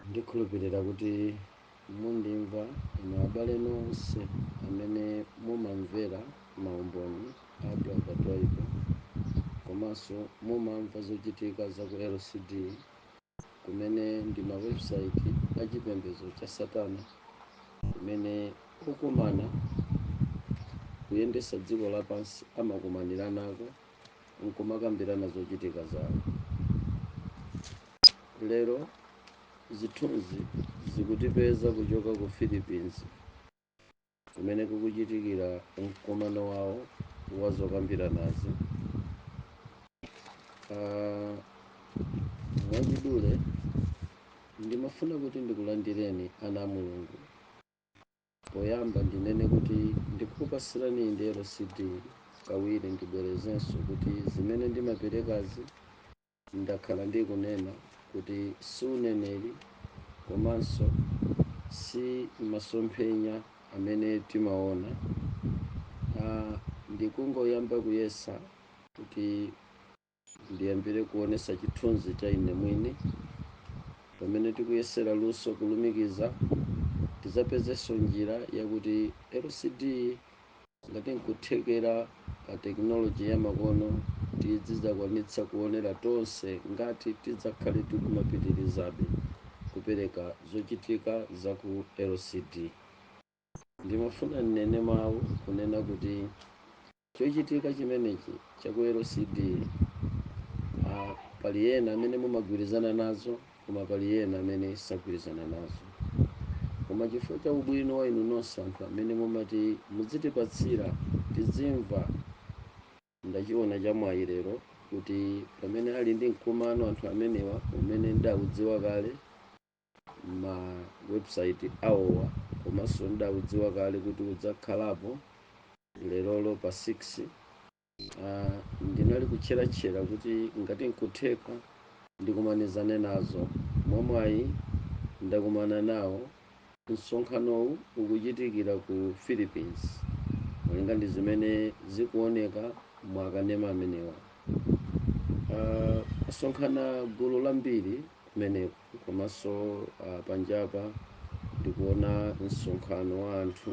ndikhulupirira kuti mundimva inu abale nonse amene mumamvera maumboni a brother Twaibu komanso mumamva zochitika za ku lcd kumene ndi mawebusaiti a chipembedzo cha satana kumene okumana kuyendesa dziko lapansi amakumanirako n'kumakambirana zochitika zawo. Lero, zithunzi zikutipeza kuchoka ku Philippines kumene kukuchitikira mkumano wawo wa zokambiranazi. Ah, mwachidule ndimafuna kuti ndikulandireni ana a Mulungu. Poyamba ndinene kuti ndikukupasirani LCD kawiri ndibwerezenso kuti zimene ndimaperekazi ndakhala ndikunena kuti si uneneri komanso si masomphenya amene timaona a ndikungoyamba kuyesa kuti Ndiyambire kuonesa chithunzi cha ine mwini. Pamene tikuyesera luso kulumikiza, tidzapezenso njira yakuti LCD ngati nkuthekera pa tekinoloje ya makono tidzidzakwanitsa kuonera tonse ngati tidzakhale tikumapitilizabe kupereka zochitika za ku LCD. Ndimafuna nnene mawu kunena kuti chochitika chimenechi cha ku LCD, a, pali ena amene mumagwirizana nazo koma pali ena amene sagwirizana nazo. Koma chifukwa cha ubwino wa inu nonse anthu amene mumati mudzitipatsira tidzimva, ndachiona chamwayi lero kuti pamene ali ndi mkumano anthu amenewa umene ndidaudziwa kale, ma website awowa komanso ndidaudziwa kale kuti udzakhalapo lerolo pa 6 uh, ndinali kutcheratchera kuti ngati nkutheka ndikumanizane nazo mwamwayi ndakumana nawo msonkhanowu ukuchitikira ku philippines malinga ndi zimene zikuoneka mwakanema amenewa uh, asonkhana gulu lambiri kumeneko komanso a panjapa ndikuona msonkhano wa anthu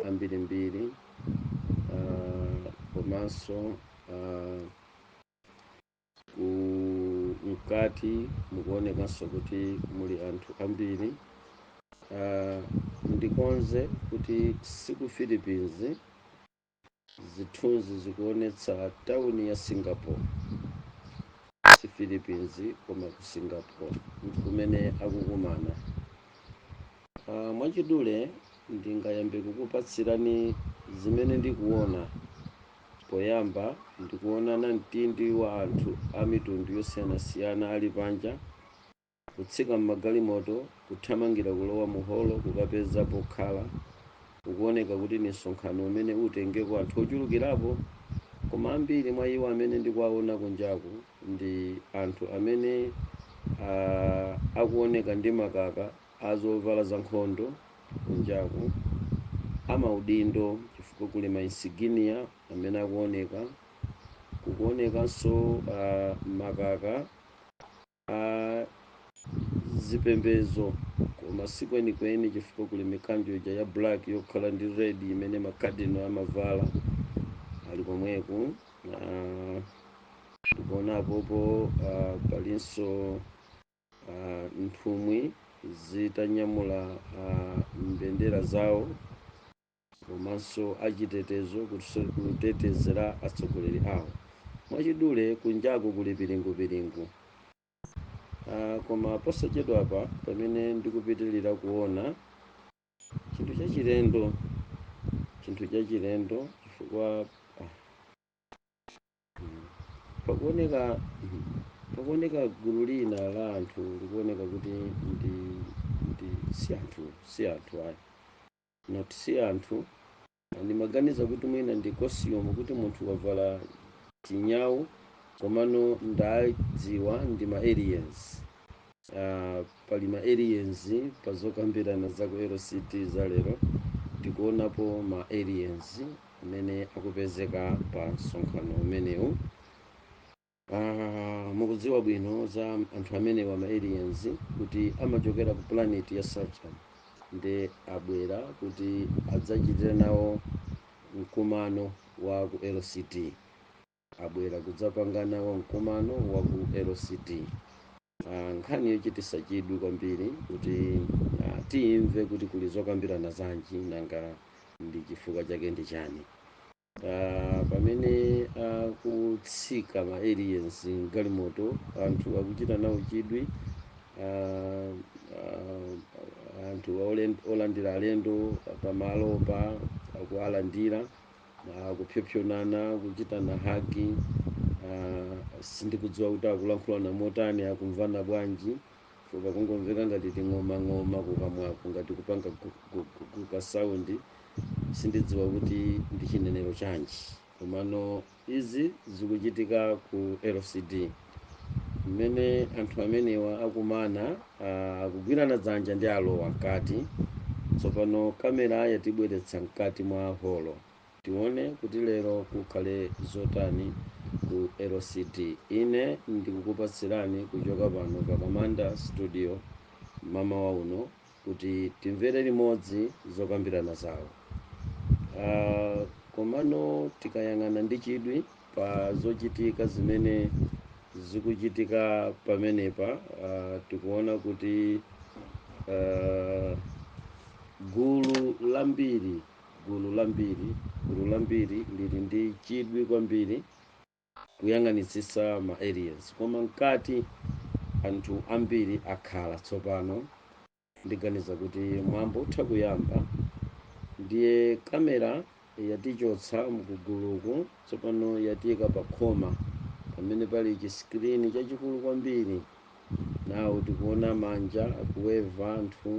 ambirimbiri komanso mkati mukuonekanso kuti muli anthu ambiri ndikonze kuti siku Philippines Zithunzi zikuonetsa tauni ya Singapore. Si Philippines koma ku Singapore n'kumene akukumana. Mwachidule ndingayambe kukupatsirani zimene ndikuona. Poyamba ndikuona namtindi wa anthu a mitundu yosiyanasiyana ali panja. Kutsika m'magalimoto, kuthamangira kulowa mu holo kukapeza pokhala, kukuwoneka kuti ndi msonkhano umene utengeko anthu ochulukirapo, koma ambiri mwa iwo amene ndikuwawona kunjaku ndi anthu amene a, akuwoneka ndi makaka a zovala zankhondo kunjaku, a maudindo, chifukwa kuli ma insignia amene akuwoneka, kukuwonekanso a, makaka. a zipembezo koma si kwenikweni chifukwa kuli mikanjo ija ya black yokhala ndi red imene makadino amavala ali komweku Ah, ndikuona apopo ah, palinso ah, nthumwi zitanyamula ah, mbendera zawo komanso achitetezo kutetezera atsogoleri awo. Mwachidule, kunjaku kuli piringupiringu. Uh, koma posachedwapa pamene ndikupitirira kuona chinthu chachilendo chinthu chachilendo chifukwa ah, hmm, pakuoneka hmm, pakuoneka gulu lina la anthu likuoneka kuti ndi, ndi si anthu si anthu ayi not si anthu ndimaganiza kuti mwina ndi costume kuti munthu wavala chinyawu komano ndadziwa ndi ma aliens uh, pali ma aliens pa zokambirana za ku lct za lero tikuonapo ma aliens amene akupezeka pa msonkhano umenewu Ah, mukudziwa bwino za anthu amenewa ma aliens kuti amachokera ku planet ya Saturn nde abwera kuti adzachitire nawo mkumano wa ku LCT abwera kudzapanga nawo mkumano wa ku LCT Ah, nkhani yochititsa chidwi kwambiri kuti ah, timve kuti kuli zokambirana zanji nanga ndi chifukwa chake ndi chani Ah, pamene akutsika ma aliens mgalimoto anthu akuchita nawo chidwi ah, ah, anthu olen- olandira alendo pamalopa akuwalandira ah, kupsopsonana kuchitana hagi ah, sindikudziwa kuti akulankhulana motani akumvana bwanji chifukwa kungomveka ngati ting'omang'oma kukamwako ngati kupanga gu- gu- gu- gu- ka sound sindidziwa kuti ndi chinenero chanji komano izi zikuchitika ku LCD mmene anthu amenewa akumana ah, akugwirana dzanja ndi alowa mkati tsopano kamera yatibweretsa mkati mwa holo Tiwone kuti lero kukhale zotani ku LCD. Ine ndikukupatsirani kuchoka pano pa Kamanda Studio mmamawa uno kuti timvere limodzi zokambirana zawo. Aaa komano tikayang'ana ndi chidwi pa zochitika zimene zikuchitika pamenepa aaa tikuwona kuti aaa gulu la mbiri. gulu la mbiri, gulu la mbiri lili ndi chidwi kwambiri kuyang'anitsitsa ma aliens koma mkati anthu ambiri akhala tsopano ndiganiza kuti mwambo utha kuyamba ndiye kamera yatichotsa mkuguluku tsopano yatiika pa khoma pamene pali chiskirini chachikulu kwambiri nawo tikuona manja akuweva anthu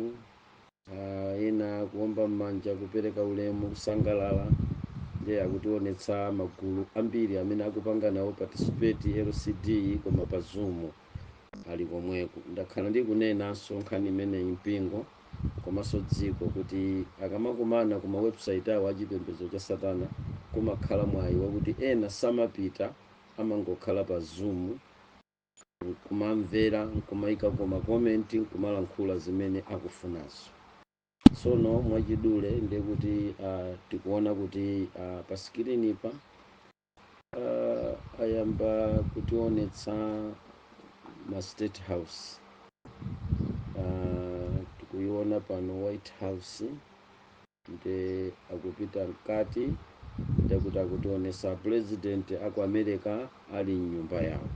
Ah, ena akuomba m'manja kupereka ulemu kusangalala ndiye akutionetsa magulu ambiri amene akupanga nawo participate LCD koma pa zoom ali komweko ndakhala ndikunenanso nkhani imeneyi mpingo komanso dziko kuti akamakumana ku mawebsite awo achipembedzo cha satana kumakhala mwayi wakuti ena samapita amangokhala pa zoom nkumamvera nkumayikako makomenti nkumalankhula zimene akufunazo tsono mwachidule ndiye kuti uh, tikuona kuti uh, pa sikilinipa uh, ayamba kutionetsa ma state house uh, tikuiona pano white house Nde akupita mkati ndekuti akutionesa president aku America ali mnyumba yawo.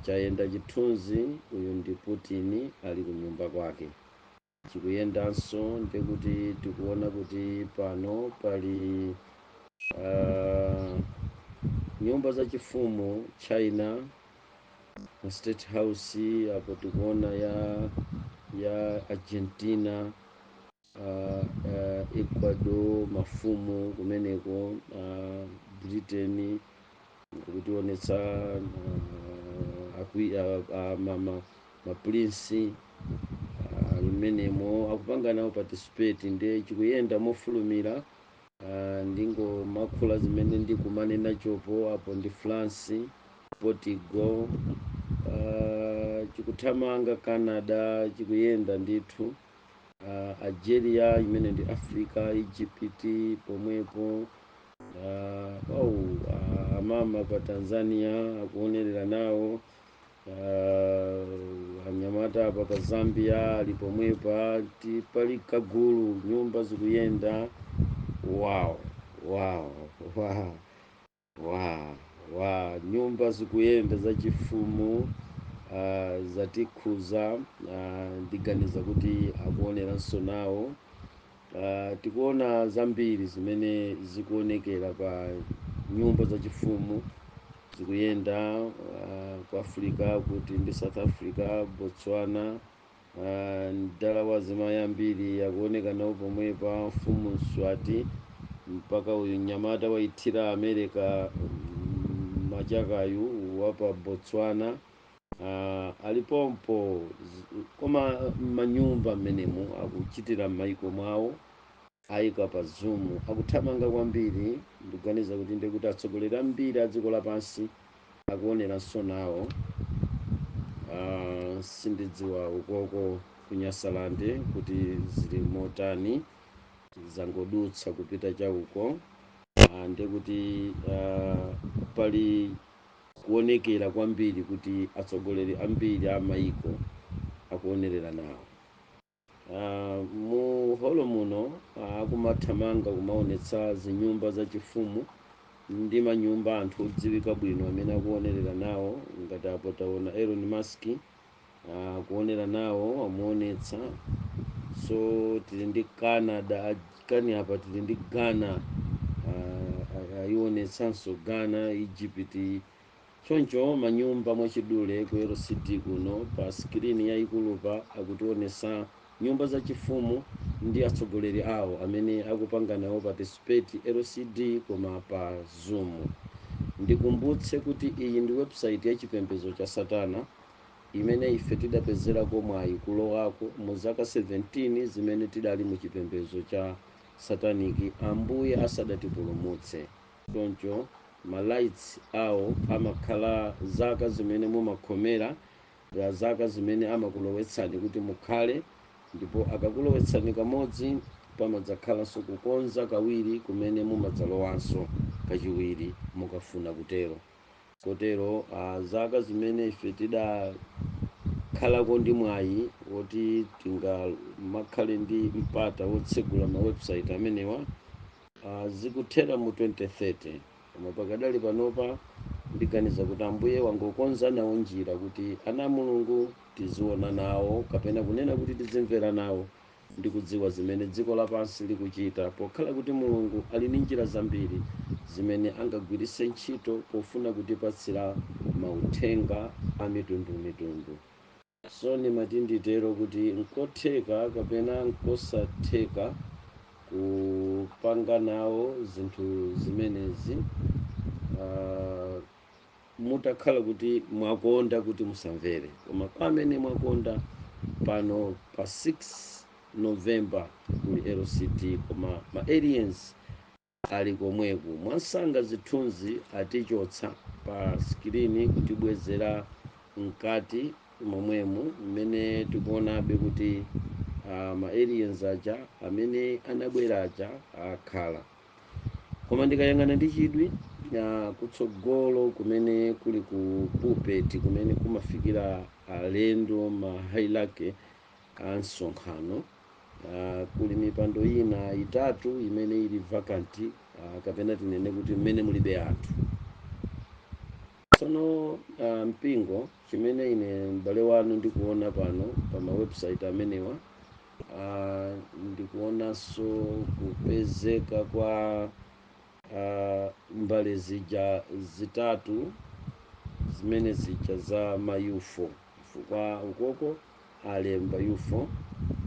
Chayenda chithunzi uyu ndi Putin ali kunyumba kwake. Chikuyendanso ndekuti tikuona kuti pano pali a nyumba za chifumu China a state house apo tikuona ya ya Argentina. uh, uh, ecuador mafumu kumeneko uh, britain kutiwonetsa uh, akwi, uh, uh, mama maprinsi uh, mmenemo akupanga nawo participate ndiye chikuyenda mofulumira uh, ndingomakhula zimene ndikumanena chopo apo ndi france portugal uh, chikuthamanga canada chikuyenda ndithu uh, algeria imene ndi africa egypt pomwepo uh, oh, uh, amama pa tanzania akuonerera nawo uh, anyamata apa pa zambia ali pomwepa ti pali kagulu nyumba zikuyenda wow wow wow Wa, wa, nyumba zikuyenda zachifumu uh, zatikhuza uh, ndiganiza kuti akuoneranso nawo uh, tikuona zambiri zimene zikuonekera pa nyumba zachifumu zikuyenda uh, ku africa kuti ndi south africa botswana Ah, mdala wa azimayi ambiri akuoneka nawo pomwepa mfumu mswati mpaka uyu mnyamata waithira america mm, machakayu wa pa botswana ah, ali pompo Z- koma manyumba mmenemu akuchitira m'maiko mwawo Aika pa zoom akuthamanga kwambiri ndikuganiza kuti ndiye kuti atsogoleri ambiri a dziko lapansi akuoneranso nawo uh, sindidziwa ukoko ku Nyasaland kuti zili motani zangodutsa kupita cha uko uh, ndiye kuti uh, pali kuonekera kwambiri kuti atsogoleri ambiri a maiko akuonerera nawo Aaa mu holo muno akumathamanga kumaonetsa zinyumba zachifumu ndi manyumba anthu odziwika bwino amene akuonerera nawo ngati apo taona Elon Musk akuonera nawo amuonetsa so tili ndi Canada kani apa tili ndi Ghana ah, ah, ayionetsanso Ghana Egypt Choncho manyumba mwachidule ku LCD kuno pa screen yayikulupa akutionesa nyumba zachifumu ndi atsogoleri awo amene akupanga nawo participate LCD koma pa zoom. Ndikumbutse kuti iyi ndi website ya chipembezo cha satana imene ife tidapezerako mwayi kulowako mu zaka 17 zimene tidali mu chipembezo cha satanic ambuye asadatipulumutse. choncho ma rights awo amakhala zaka zimene mumakhomera zaka zimene amakulowetsani kuti mukhale ndipo akakulowetsani kamodzi pamadzakhalanso kukonza kawiri kumene mumadzalowanso kachiwiri mukafuna kutero kotero uh, zaka zimene ife tidakhalako ndi mwayi woti tingamakhale ndi mpata wotsegula ma website amenewa Ah, zikuthera mu 2030 koma pakadali panopa ndiganiza kuti ambuye wangokonza nawo njira kuti ana a mulungu tiziona nawo kapena kunena kuti tizimvera nawo ndi kudziwa zimene dziko lapansi likuchita pokhala kuti mulungu ali ndi njira zambiri zimene angagwiritse ntchito pofuna kutipatsira mauthenga a mitundu mitundu So ndimati nditero kuti nkotheka kapena nkosatheka kupanga nawo zinthu zimenezi uh, mutakhala kuti mwakonda kuti musamvere koma kwa amene mwakonda pano pa 6 november kuli LCD koma ma aliens ali komweko. Mwansanga zithunzi atichotsa pa skrini kutibwezera mkati momwemo mmene tikuonabe kuti ah, ma aliens aja amene anabwera aja akhala koma ndikayang'ana ndi chidwi ah, kutsogolo kumene kuli ku pulpit kumene kumafikira alendo ma hierarchy a msonkhano Uh, kuli mipando ina itatu imene ili vacant uh, kapena tinene kuti mmene mulibe anthu tsono uh, mpingo chimene ine m'bale wanu ndikuona pano pa mawebsite amenewa uh, ndikuonanso kupezeka kwa uh, mbale zija zitatu zimene zija za ma ufo chifukwa ukoko alemba ufo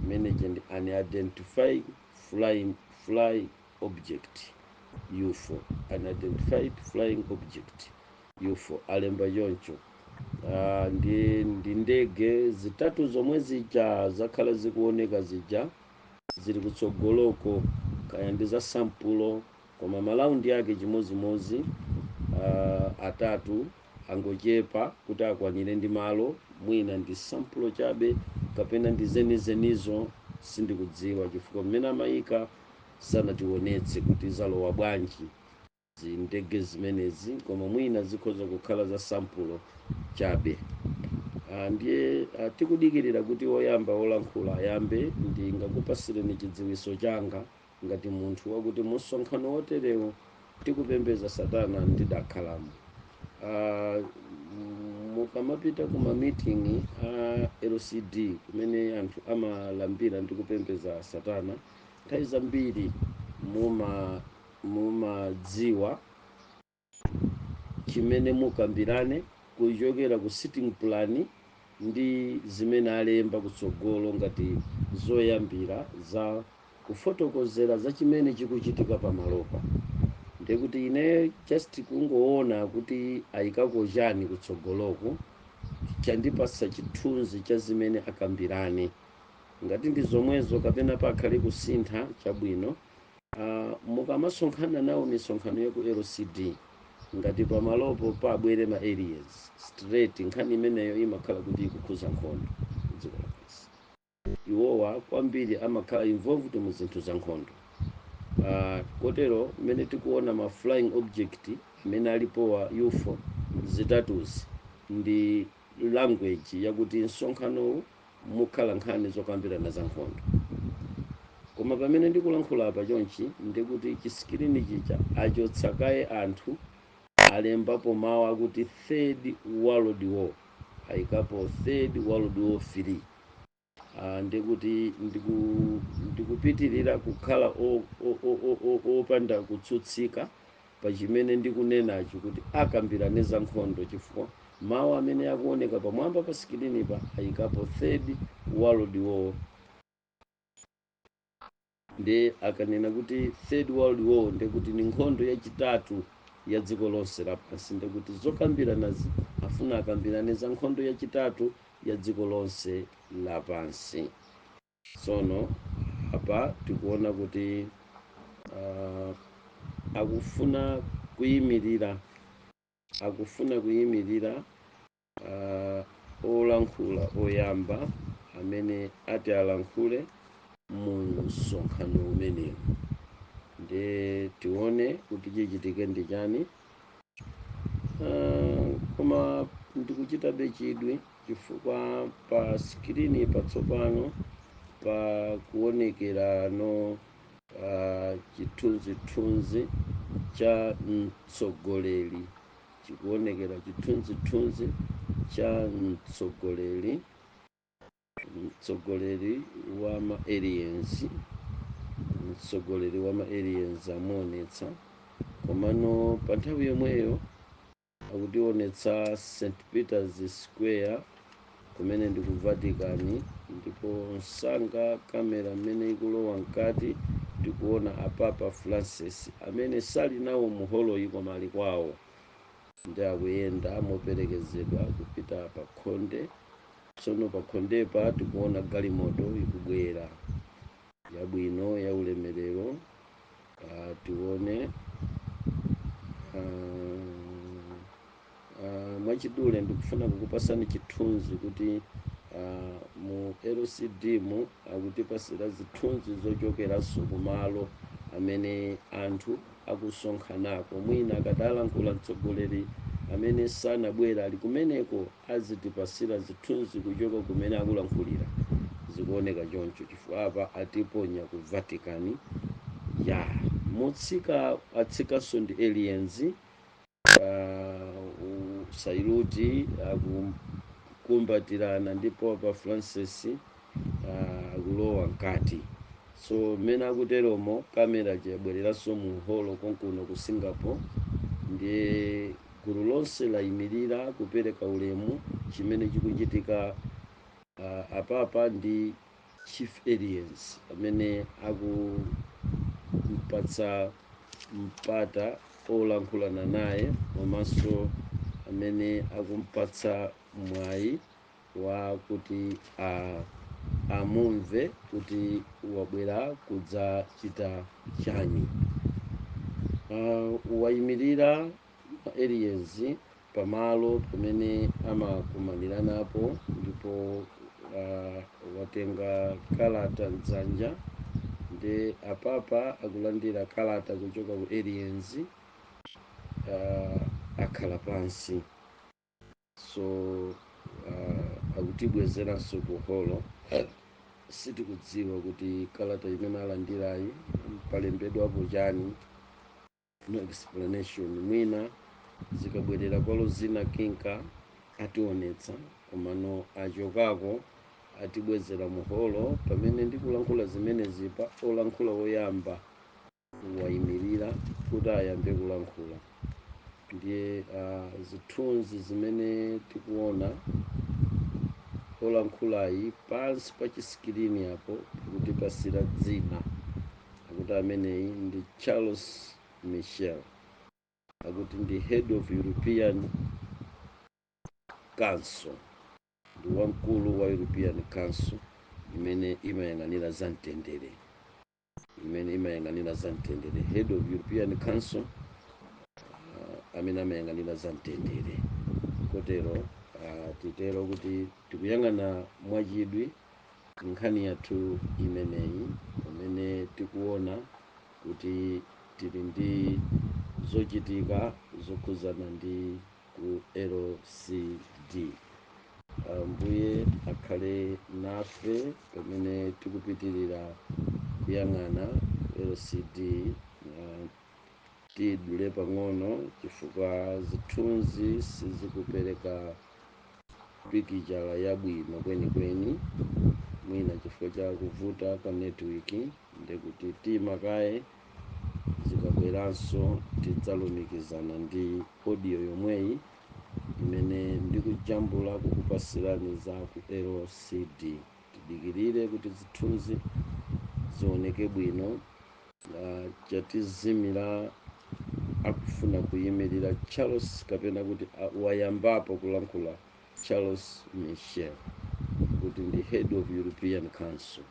imene ndi unidentified flying fly object ufo unidentified flying object ufo alemba choncho Ah, ndi ndi ndege zitatu zomwe zija zakhala zikuoneka zija zili kutsogoloko kaya ndi za sampulo koma malaundi ake chimodzimodzi uh, atatu angochepa kuti akwanire ndi malo mwina ndi sampulo chabe kapena ndi zenizenizo sindikudziwa chifukwa mmene amayika sanatiwonetse kuti zalowa bwanji zindege zimenezi koma mwina zikhoza kukhala za sampulo chabe Ah, ndiye ah, tikudikirira kuti woyamba wolankhula ayambe ndingakupasireni chidziwiso changa ngati munthu wakuti musonkhano woterewu okupembeza satana ndidakhalamo Ah, mm, mukamapita ku mamitingi a lcd kumene anthu amalambira ndi kupembeza satana nthawi zambiri muma mumadziwa chimene mukambirane kuchokera ku sitting plan ndi zimene alemba kutsogolo ngati zoyambira za kufotokozera za chimene chikuchitika pamalopa. Ndiye kuti ineyo just kungoona kuti ayikako chani kutsogoloku chandipatsa chithunzi cha zimene akambirane. Ngati ndi zomwezo kapena pakhale kusintha, chabwino. Ah, mukamasonkhana nawo misonkhano ya ku LCD ngati pamalopo pabwere ma aliens straight, nkhani imeneyo imakhala kuti ikukhuza nkhondo kudziko lapansi. Iwowa kwambiri amakhala involved mu zinthu za nkhondo. Ah, kotero mmene tikuona ma flying object amene alipowa UFO zitatuzi ndi language yakuti msonkhanowu mukhala nkhani zokambirana za nkhondo. Koma pamene ndikulankhula apa chonchi ndi kuti chisikilini chija achotsa kaye anthu alembapo mawu akuti Third World War ayikapo Third World War 3 Ah, ndi kuti ndiku, ndikupitirira kukhala o- o- o- o- o- opanda kutsutsika pa chimene ndikunenachi kuti akambirane za nkhondo chifukwa mawu amene akuoneka pamwamba pa sikilinipa ayikapo Third World War nde akanena kuti Third World War nde kuti ni nkhondo yachitatu ya dziko lonse lapansi nde kuti zokambiranazi afuna akambirane za nkhondo yachitatu ya dziko lonse lapansi Tsono apa tikuona kuti uh, akufuna kuyimirira akufuna kuyimirira uh, olankhula oyamba amene ati alankhule mu msonkhano umenewu, ndiye tione kuti chichitike ndi chani. Ah, koma ndikuchitabe chidwi chifukwa pa skrini patsopano pakuonekeranso ah, chithunzithunzi cha mtsogoleri chikuonekera chithunzithunzi cha mtsogoleri mtsogoleri wa ma aliens mtsogoleri wa ma aliens amuonetsa komano pa nthawi yomweyo akutionetsa st peters square kumene ndi ku vatican ndipo msanga kamera mmene ikulowa mkati tikuona apapa francis amene sali nawo mu holoyi koma ali kwawo ndi akuyenda moperekezedwa kupita pa khonde Tsono pakhondepa tikuona galimoto ikubwera yabwino yaulemerero ah, tione ah, ah, mwachidule ndikufuna kukupasani chithunzi kuti ah, mu LCD mu akutipasira zithunzi zochokeranso kumalo amene anthu akusonkhanako mwina akadzalankhula mtsogoleri amene sanabwera ali kumeneko azitipasila zithunzi kuchoka kumene akulankhulila zikuoneka choncho chifukwa apa atiponya ku vatican ya mutsika atsikanso ndi aliens uh, sailuti akukumbatirana ndi papa francis akulowa mkati so mmene akuteromo kamera ija yabwereranso mu holo konkuno ku singapore ndiye gulu lonse layimirira kupereka ulemu chimene chikuchitika uh, apapa ndi chief aliens amene akumpatsa mpata olankhulana naye komanso amene akumpatsa mwayi wakuti a amumve kuti wabwera kudzachita chani uh, wayimirira aliens pamalo pamene amakumaniranapo ndipo uh, watenga kalata mdzanja nde apapa akulandira kalata kuchoka ku aliens uh, akhala pansi so uh, akutibwezeranso ku holo sitikudziwa kuti kalata imene alandirayi palembedwapo chani no explanation mwina zikabwerera penapake kapena ationetsa komano achokako atibwezera muholo pamene ndikulankhula zimenezi pa olankhula woyamba wayimirira kuti ayambe kulankhula ndiye uh, zithunzi zimene tikuona olankhulayi pansi pa chisikirini apo tikutipasira dzina akuti ameneyi ndi charles michel akuti ndi head of european council ndi wamkulu wa european council imene imayang'anira za mtendere imene imayang'anira za mtendere head of european council uh, amene amayang'anira za mtendere kotero uh, titero kuti tikuyang'ana mwachidwi nkhani yathu imeneyi pamene tikuona kuti tili ndi zochitika zokhudzana ndi ku lcd ambuye akhale nafe pamene tikupitirira kuyang'ana lcd uh, tidule pang'ono chifukwa zithunzi sizikupereka pikichara yabwino kwenikweni mwina chifukwa cha kuvuta kwa network ndekuti tiima kaye zikabweranso tidzalumikizana ndi audio yomweyi imene ndikujambula kukupasirani za ku LCD. Tidikirire kuti zithunzi zioneke bwino na chatizimira akufuna kuyimirira Charles kapena kuti a- wayambapo kulankhula Charles Michel kuti ndi head of European Council.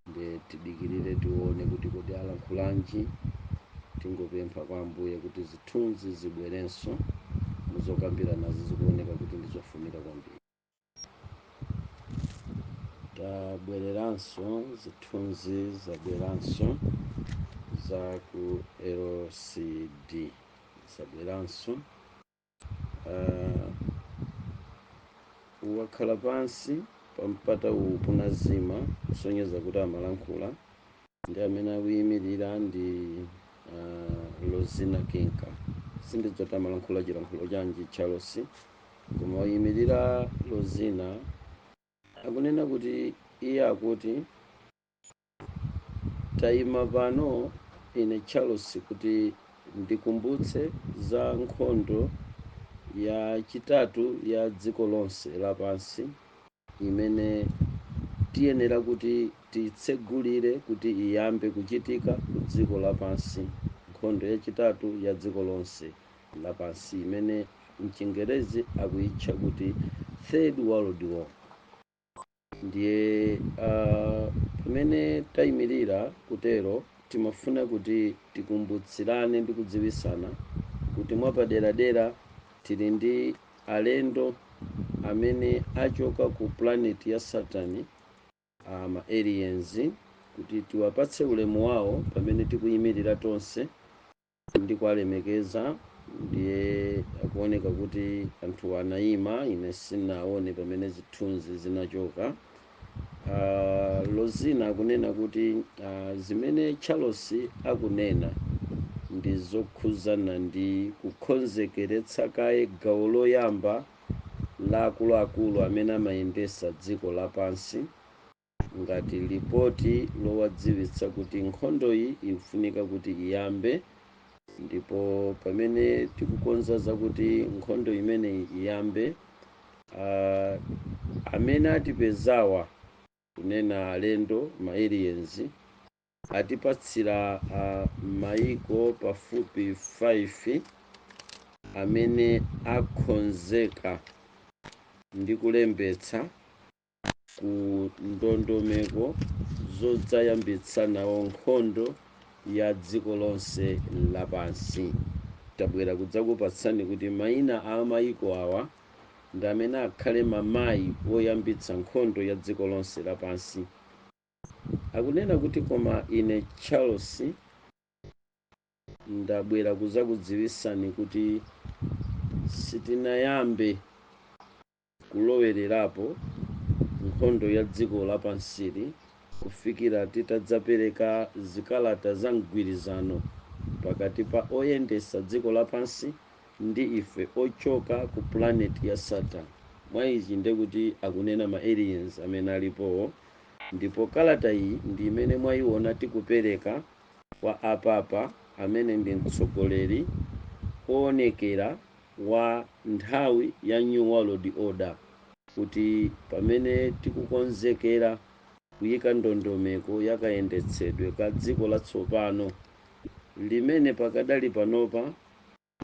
nde tidikirire tione kuti kodi alankhulanji tingopempha kwa ambuye kuti zithunzi zibwerenso muzokambiranazi zikuoneka kuti ndizofunika kwambiri tabwereranso zithunzi zabweranso za ku lcd zabweranso uh, wakhala pansi pa mpata uwu panazima kusonyeza kuti amalankhula ndi amene akuyimirira ndi uh, lozina kinka sindidziwa kuti amalankhula chilankhulo chanji charles koma wayimirira lozina akunena kuti iye akuti Taima pano, ine, Charles, kuti ndikumbutse za nkhondo ya chitatu ya dziko lonse lapansi imene tiyenera kuti titsegulire kuti iyambe kuchitika ku dziko lapansi. Nkhondo ya chitatu ya dziko lonse lapansi imene mchingerezi akuitcha kuti Third World War. Ndiye ah, pamene tayimirira kutero, timafuna kuti tikumbutsirane ndi kudziwisana kuti mwapaderadera tili ndi alendo amene achoka ku planet ya Saturn, ah, ma aliens, kuti tiwapatse ulemu wawo pamene tikuyimirira tonse ndikuwalemekeza ndiye akuoneka kuti anthu anaima ine sinaone pamene zithunzi zinachoka lozina akunena kuti zimene charles akunena ndi zokhuzana ndi kukhonzekeretsa kaye gawo loyamba la akuluakulu amene amayendesa dziko lapansi ngati lipoti lowadziwitsa kuti nkhondoyi ikufunika kuti iyambe ndipo pamene tikukonza zakuti nkhondo imeneyi iyambe ah, amene atipezawa kunena alendo ma aliens atipatsira ah, maiko pafupi 5 amene akhonzeka ndi kulembetsa ku ndondomeko zodzayambitsa nawo nkhondo ya dziko lonse lapansi tabwera kudzakupatsani kuti maina a mayiko awa ndi amene akhale mamayi woyambitsa nkhondo ya dziko lonse lapansi akunena kuti koma ine charles ndabwera kudzakudziwisani kuti sitinayambe kulowererapo nkhondo ya dziko lapansili kufikira titadzapereka zikalata za mgwirizano pakati pa oyendesa dziko lapansi ndi ife ochoka ku planet ya Saturn, mwa ichi nde kuti akunena ma aliens amene alipowo, ndipo kalata iyi ndi imene mwayiona tikupereka kwa a Papa amene ndi mtsogoleri oonekera wa nthawi ya New World Order kuti pamene tikukonzekera kuyika ndondomeko ya kayendetsedwe ka dziko latsopano, limene pakadali panopa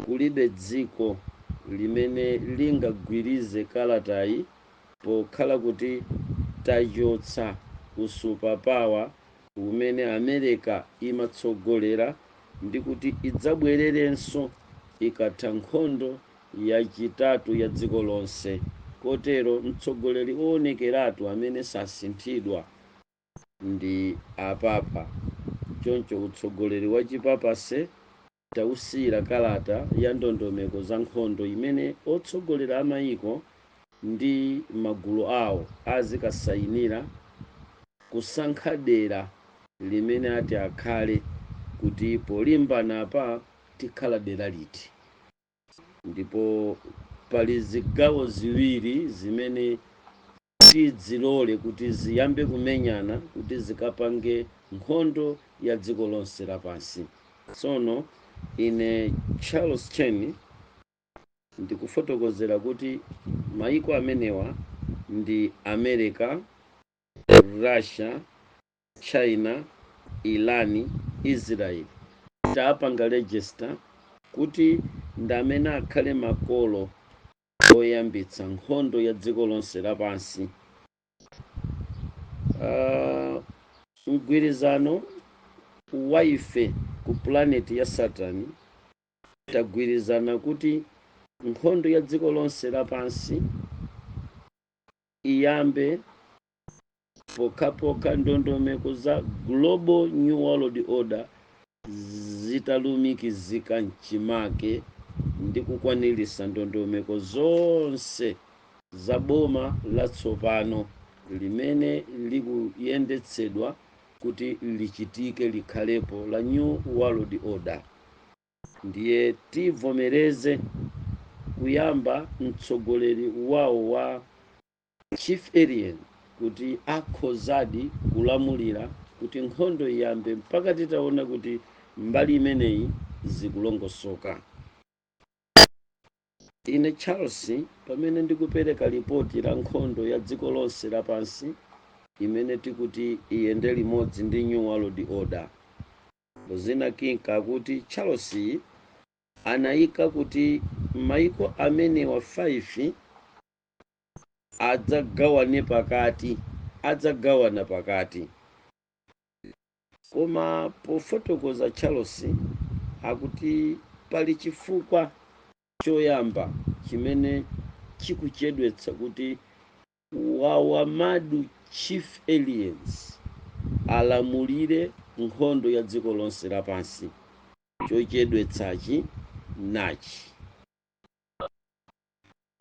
kulibe dziko limene lingagwirize kalatayi pokhala kuti tachotsa usupapawa umene Amerika imatsogolera ndi kuti idzabwererenso ikatha nkhondo yachitatu ya dziko lonse kotero mtsogoleri owonekeratu amene sasinthidwa ndi apapa choncho utsogoleri wa chipapase Tausiyira kalata ya ndondomeko za nkhondo imene otsogolera a maiko ndi magulu awo azikasayinira kusankha dera limene ati akhale kuti polimbana apa tikhala dera liti. Ndipo pali zigawo ziwiri zimene tidzilole kuti ziyambe kumenyana kuti zikapange Nkhondo ya Dziko lonse lapansi. Tsono, ine, Charles Chen, ndikufotokozera kuti maiko amenewa ndi Amerika, Russia, China, Iran, Israel tapanga register kuti ndi amene akhale makolo oyambitsa nkhondo ya dziko lonse lapansi. Uh, mgwirizano wa ife ku planeti ya Saturn tagwirizana kuti nkhondo ya dziko lonse lapansi iyambe pokhapokha ndondomeko za global new world order zitalumikizika mchimake ndi kukwaniritsa ndondomeko zonse za boma latsopano limene likuyendetsedwa kuti lichitike likhalepo la new world order ndiye tivomereze kuyamba mtsogoleri wawo wa Chief Alien kuti akhozadi kulamulira kuti nkhondo iyambe mpaka titaona kuti mbali imeneyi zikulongosoka. Ine Charles, pamene ndikupereka lipoti la nkhondo ya dziko lonse lapansi imene tikuti iyende limodzi ndi New World Order. Rosina Kinka akuti Charles anaika kuti maiko amenewa 5 adzagawane pakati adzagawana pakati koma pofotokoza charles akuti pali chifukwa choyamba chimene chikuchedwetsa kuti wawamadu chief aliens alamulire nkhondo ya dziko lonse lapansi chochedwetsachi nachi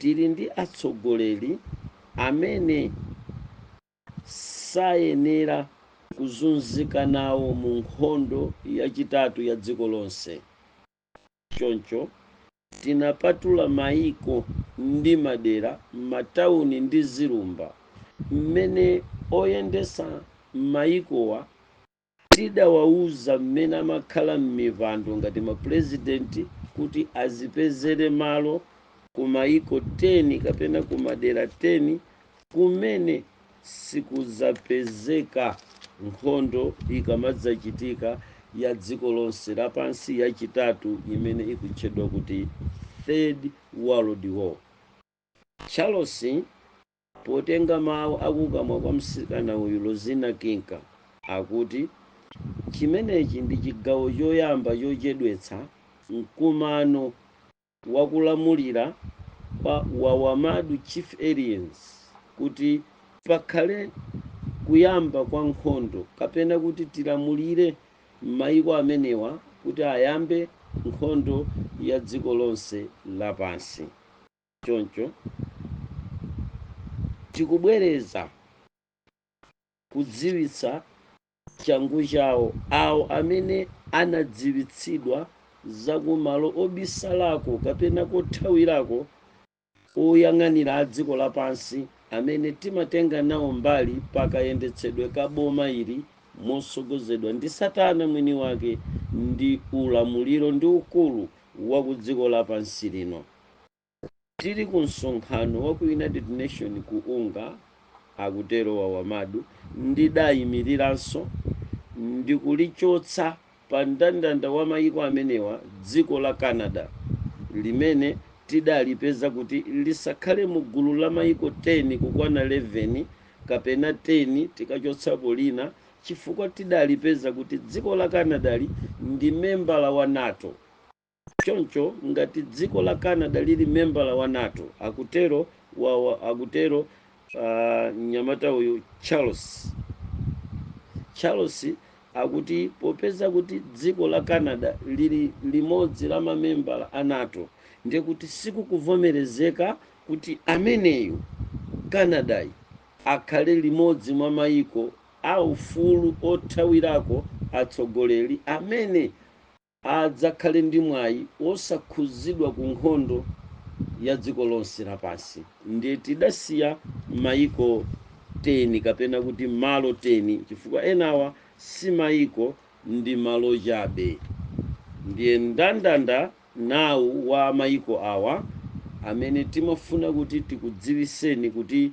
Tili ndi atsogoleri amene sayenera kuzunzika nawo mu nkhondo yachitatu ya dziko lonse. Choncho, tinapatula maiko ndi madera, matauni ndi zilumba mmene oyendetsa maikowa Tidawauza mmene amakhala mmipando ngati mapurezidenti kuti azipezere malo ku maiko 10 kapena ku madera 10 kumene sikudzapezeka nkhondo ikamadzachitika ya dziko lonse lapansi yachitatu imene ikutchedwa kuti Third World War. Charles. Potenga mawu akukamwa kwa mtsikana uyu, Lozina King, akuti, Chimenechi ndi chigawo choyamba chochedwetsa mkumano wa kulamulira kwa Wawamadu Chief Aliens kuti pakhale kuyamba kwa nkhondo kapena kuti tilamulire maiko amenewa kuti ayambe nkhondo ya dziko lonse lapansi. Choncho tikubwereza kudziwitsa changu chawo awo amene anadziwitsidwa za kumalo obisalako kapena kothawirako oyang'anira a dziko lapansi amene timatenga nawo mbali pa kayendetsedwe ka boma ili motsogozedwa ndi Satana mwini wake ndi ulamuliro ndi ukulu wa ku dziko lapansi lino. Tili ku msonkhano wa ku United Nations ku Unga, akutero Wawamadu, ndidaimiriranso ndikulichotsa pa mndandanda wa maiko amenewa dziko la Canada, limene tidalipeza kuti lisakhale mu gulu la maiko 10 kukwana 11 kapena 10 tikachotsapo lina chifukwa tidalipeza kuti dziko la Canadali ndi membala wa NATO. Choncho ngati dziko la Canada lili membala wa NATO, akutero wa, wa, akutero uh, mnyamata uyu Charles. Charles akuti popeza kuti dziko la Canada lili limodzi la mamembala a NATO ndiye kuti sikukuvomerezeka kuti ameneyu Canadayi akhale limodzi mwa mayiko a ufulu othawirako atsogoleri amene adzakhale ndi mwayi wosakhudzidwa ku nkhondo ya dziko lonse lapansi ndiye tidasiya maiko 10 kapena kuti malo 10 chifukwa enawa si maiko ndi malo chabe ndiye mndandanda nawu wa maiko awa amene timafuna kuti tikudziwiseni kuti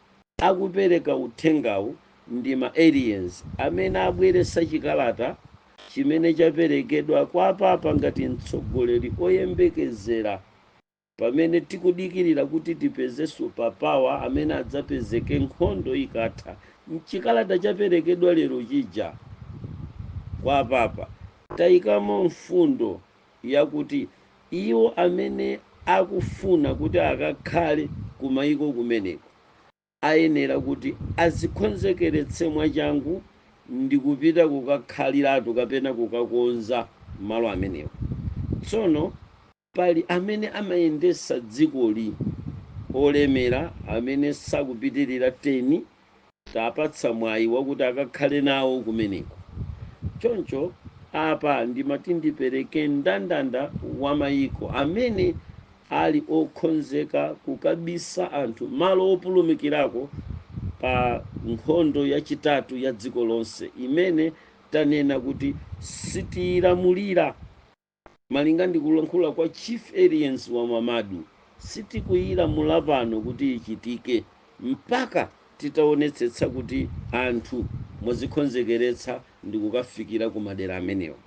Akupereka uthengawu ndi ma aliens amene abweretsa chikalata chimene chaperekedwa kwa apapa ngati mtsogoleri oyembekezera pamene tikudikilira kuti tipeze super power amene adzapezeke nkhondo ikatha. Mchikalata chaperekedwa lero chija kwa apapa taikamo mfundo yakuti iwo amene akufuna kuti akakhale kumayiko kumeneko ayenera kuti azikhonzekeretse mwachangu ndikupita kukakhaliratu kapena kukakonza malo amenewo. Tsono pali amene amayendesa dzikoli olemera amene sakupitilira 10 tapatsa mwayi wakuti akakhale nawo kumeneko. Choncho apa ndimati ndipereke ndandanda wa mayiko amene ali okhonzeka kukabisa anthu malo opulumukirako pa nkhondo yachitatu ya dziko lonse imene tanena kuti sitiyilamulira. Malinga ndi kulankhula kwa Chief Aliens wa Mamadu, sitikuyilamula pano kuti ichitike mpaka titaonetsetsa kuti anthu mwazikhonzekeretsa ndikukafikira ku madera amenewa.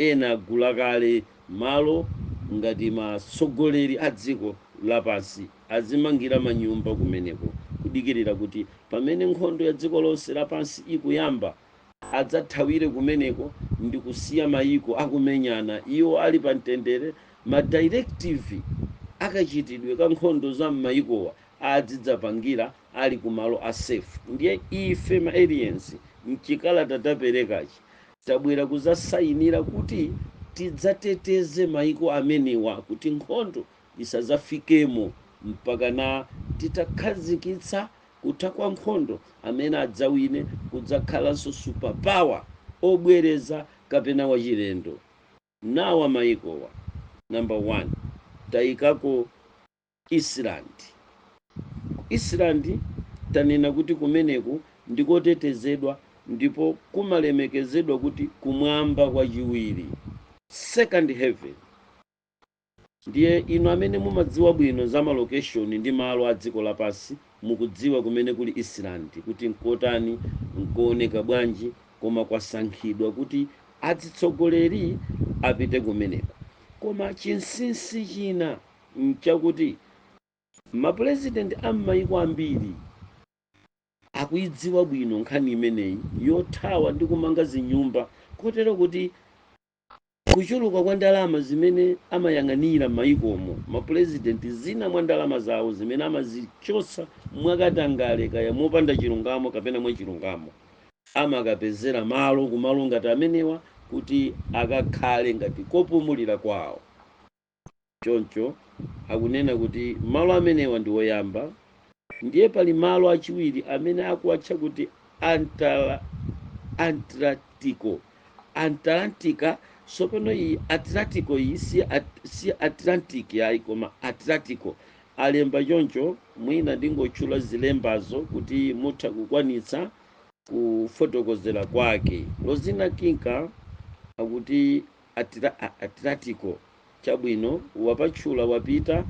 Ena agula kale malo ngati matsogoleri a dziko lapansi azimangira manyumba kumeneko kudikirira kuti pamene nkhondo ya dziko lonse lapansi ikuyamba, adzathawire kumeneko ndikusiya mayiko akumenyana iwo ali pa mtendere, ma directive akachitidwe ka nkhondo za m'mayikowa adzidzapangira ali ku malo a safe. Ndiye ife ma aliens mchikalata taperekachi tabwera kuzasayinira kuti tidzateteze mayiko amenewa kuti nkhondo isadzafikemo mpakana titakhazikitsa kutha kwa nkhondo amene adzawine kudzakhalanso super power obwereza kapena wachilendo nawa maikowa number 1 taikako Iceland ku Iceland tanena kuti kumeneku ndikotetezedwa ndipo kumalemekezedwa kuti kumwamba kwachiwiri second heaven Ndiye, inu amene mumadziwa bwino za malokeshoni ndi malo a dziko lapansi, mukudziwa kumene kuli Iceland, kuti nkotani, nkowoneka bwanji, koma kwasankhidwa kuti adzitsogoleri apite kumeneko. Koma chinsinsi china nchakuti Mapulezidenti a m'maiko ambiri akuidziwa bwino nkhani imeneyi yothawa ndi kumanga zinyumba kotero kuti Kuchuluka kwa ndalama zimene amayang'anira m'mayikomo, mapulezidenti, zina mwa ndalama zawo zimene amazichosa mwakatangale kaya mopanda chilungamo kapena mwachilungamo, amakapezera malo kumalo ngati amenewa kuti akakhale ngati kopumulira kwawo. Choncho akunena kuti malo amenewa ndi oyamba ndiye pali malo achiwiri amene akuwatcha kuti Antarctica. Sopano iyi Atlantiko iyi si Atlantic ayi koma Atlantiko alemba choncho, mwina ndingotchula zilembazo kuti mutha kukwanitsa kufotokozera kwake. Rosina Kinka akuti Atlantiko chabwino wapatchula wapita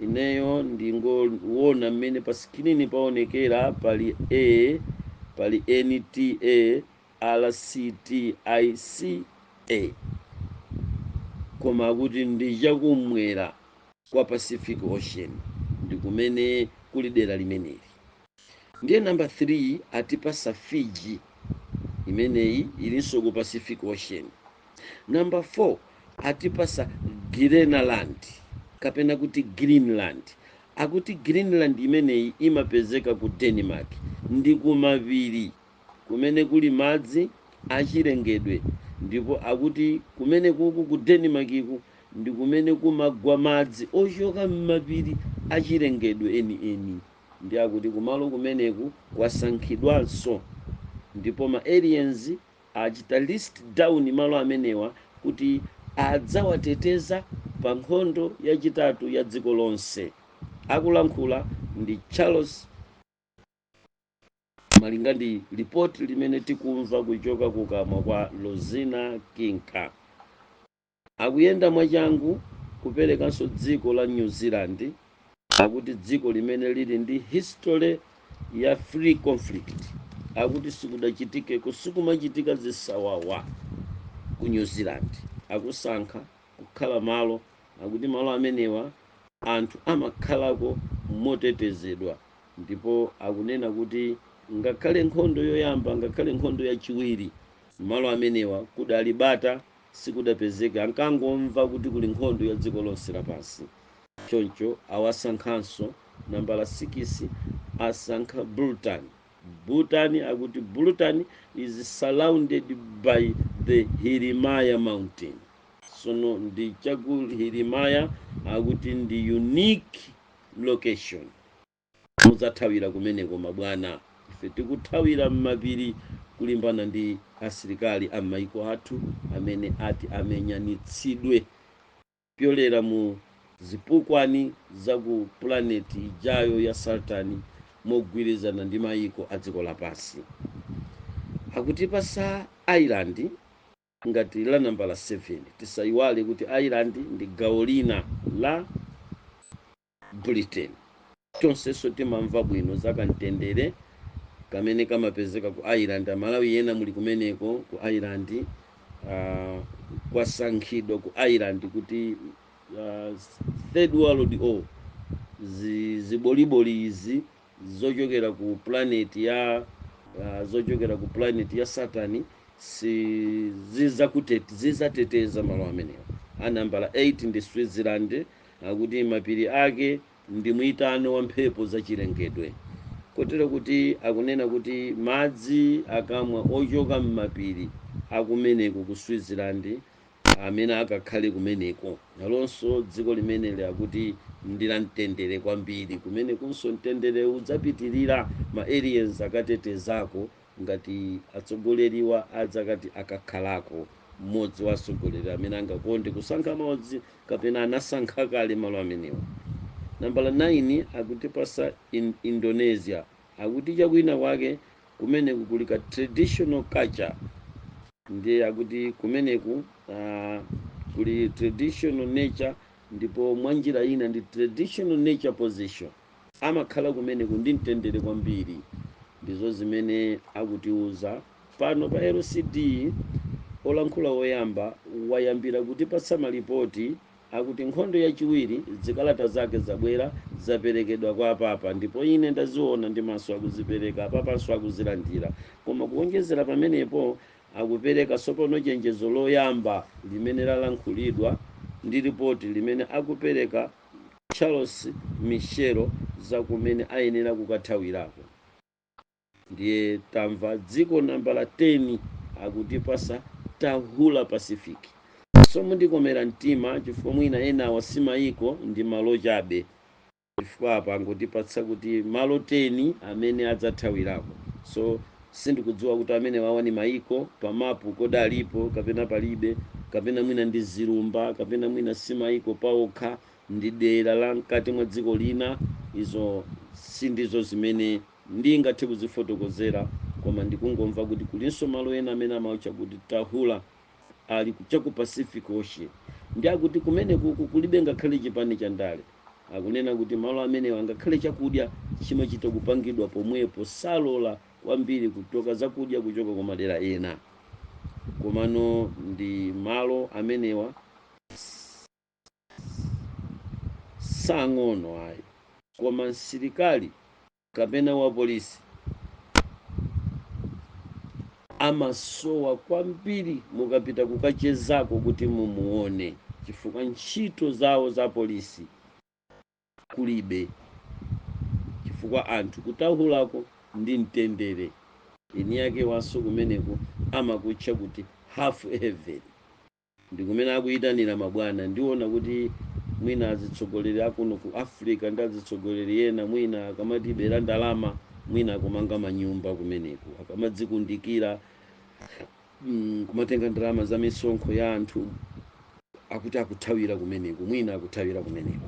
ineyo ndingowona mmene pa screen paonekera pali pali NT A RCT IC A koma akuti ndi chakum'mwera kwa Pacific Ocean ndikumene kuli dera limeneli. Ndiye number 3 atipasa Fiji imeneyi ilinso ku Pacific Ocean. Number 4 atipasa Greenland kapena kuti Greenland. Akuti Greenland imeneyi imapezeka ku Denmark ndi kumapiri kumene kuli madzi achilengedwe ndipo akuti kumene kuku ku Denmark ku ndi kumene kumagwa madzi ochoka m'mapiri achilengedwe eni eni. Ndi akuti kumalo kumeneku kwasankhidwanso ndipo ma aliens achita list down malo amenewa kuti adzawateteza pa nkhondo yachitatu ya dziko lonse. Akulankhula ndi Charles malinga ndi report limene tikumva kuchoka kukamwa kwa Rosina Kinka. Akuyenda mwachangu kuperekanso dziko la New Zealand akuti dziko limene lili ndi history ya free conflict akuti sikudachitikeko sikumachitika zisawawa ku New Zealand akusankha kukhala malo akuti malo amenewa anthu amakhalako motetezedwa ndipo akunena kuti ngakhale nkhondo yoyamba ngakhale nkhondo yachiwiri malo amenewa kudali bata sikudapezeka, ankangomva kuti kuli nkhondo ya dziko lonse lapansi. Choncho awasankhanso nambala sikisi, asankha Bhutan. Bhutan akuti Bhutan is surrounded by the Hirimaya mountain. Sono ndi chaku Hirimaya akuti ndi unique location. Mudzathawira kumeneko mabwana. Ife tikuthawira mmapiri kulimbana ndi asilikari a mmaiko athu amene ati amenyanitsidwe kupyolera mu zipukwani za ku pulaneti ijayo ya Saturn mogwirizana ndi maiko a dziko lapansi. Akutipatsa Ireland ngati la nambala 7. Tisaiwale kuti Ireland ndi gawo lina la. Britain. Tonseso timamva bwino za ka mtendere kamene kamapezeka ku Ireland. Amalawi ena muli kumeneko ku Ireland, uh, kwasankhidwa ku Ireland kuti uh, third world war ziboliboli izi zochokera ku planet ya uh, zochokera ku planet ya Saturn zi zizakutet zizateteza malo amenewa. A nambala 8 ndi Switzerland. akuti mapiri ake ndi mwitano wa mphepo za chilengedwe kotero kuti akunena kuti madzi akamwa ochoka m'mapiri akumeneko ku switzerland amene akakhale kumeneko nalonso dziko limeneli akuti ndi la mtendere kwambiri kumenekonso mtendere udzapitirira ma aliens akatetezako ngati atsogoleriwa adzakati akakhalako mmodzi wa atsogoleri amene angakonde kusankha malo dzi- kapena anasankha kale malo amenewa nambala 9 akutipasa indonesia akuti chakwina kwake kumeneku kuli ka traditional culture ndiye akuti kumeneku uh, kuli traditional nature ndipo mwanjira ina ndi traditional nature position Amakhala kumeneko ndi mtendere kwambiri. Ndizo zimene akutiuza pano pa LCD. Olankhula woyamba wayambira kutipatsa malipoti akuti nkhondo yachiwiri, zikalata zake zabwera, zaperekedwa kwa apapa, ndipo ine ndaziwona ndi maso akuzipereka, apapanso akuzilandira. Koma kuwonjezera pamenepo, akupereka tsopano chenjezo loyamba limene lalankhulidwa ndi lipoti limene akupereka Charles Michel za kumene ayenera kukathawirako ndiye tamva dziko nambala 10 akutipasa tahula pacific so mundikomera mtima chifukwa mwina enawa si maiko ndi malo chabe chifukwa apa angotipatsa kuti malo 10 amene adzathawirako so Sindikudziwa kuti amenewawa ni maiko pa mapu, kodi alipo kapena palibe, kapena mwina ndi zilumba, kapena mwina si maiko paokha, ndi dera la mkati mwa dziko lina. Izo sindizo zimene ndingathe kuzifotokozera, koma ndikungomva kuti kulinso malo ena amene amawatcha kuti Tahula. ali ku- cha ku pacific ocean ndi akuti kumenekoko kulibe ngakhale chipani cha ndale akunena kuti malo amenewa ngakhale chakudya chimachita kupangidwa pomwepo salola kwambiri kutenga zakudya kuchoka kwa madera ena komano ndi malo amenewa si ang'ono ayi koma msilikali kapena wapolisi amasowa kwambiri mukapita kukachezako kuti mumuone chifukwa ntchito zawo za polisi kulibe chifukwa anthu ku Tahulako ndi mtendere eni ake awonso kumeneko amakutcha kuti half heaven Ndikumene akuyitanira mabwana. Ndiona kuti mwina azitsogoleri akuno ku Africa ndi azitsogoleri ena mwina akamatibera ndalama mwina akumanga manyumba kumeneko. Akamadzikundikira nkumatenga ndalama za misonkho ya anthu akuti akuthawira kumeneko, mwina akuthawira kumeneko.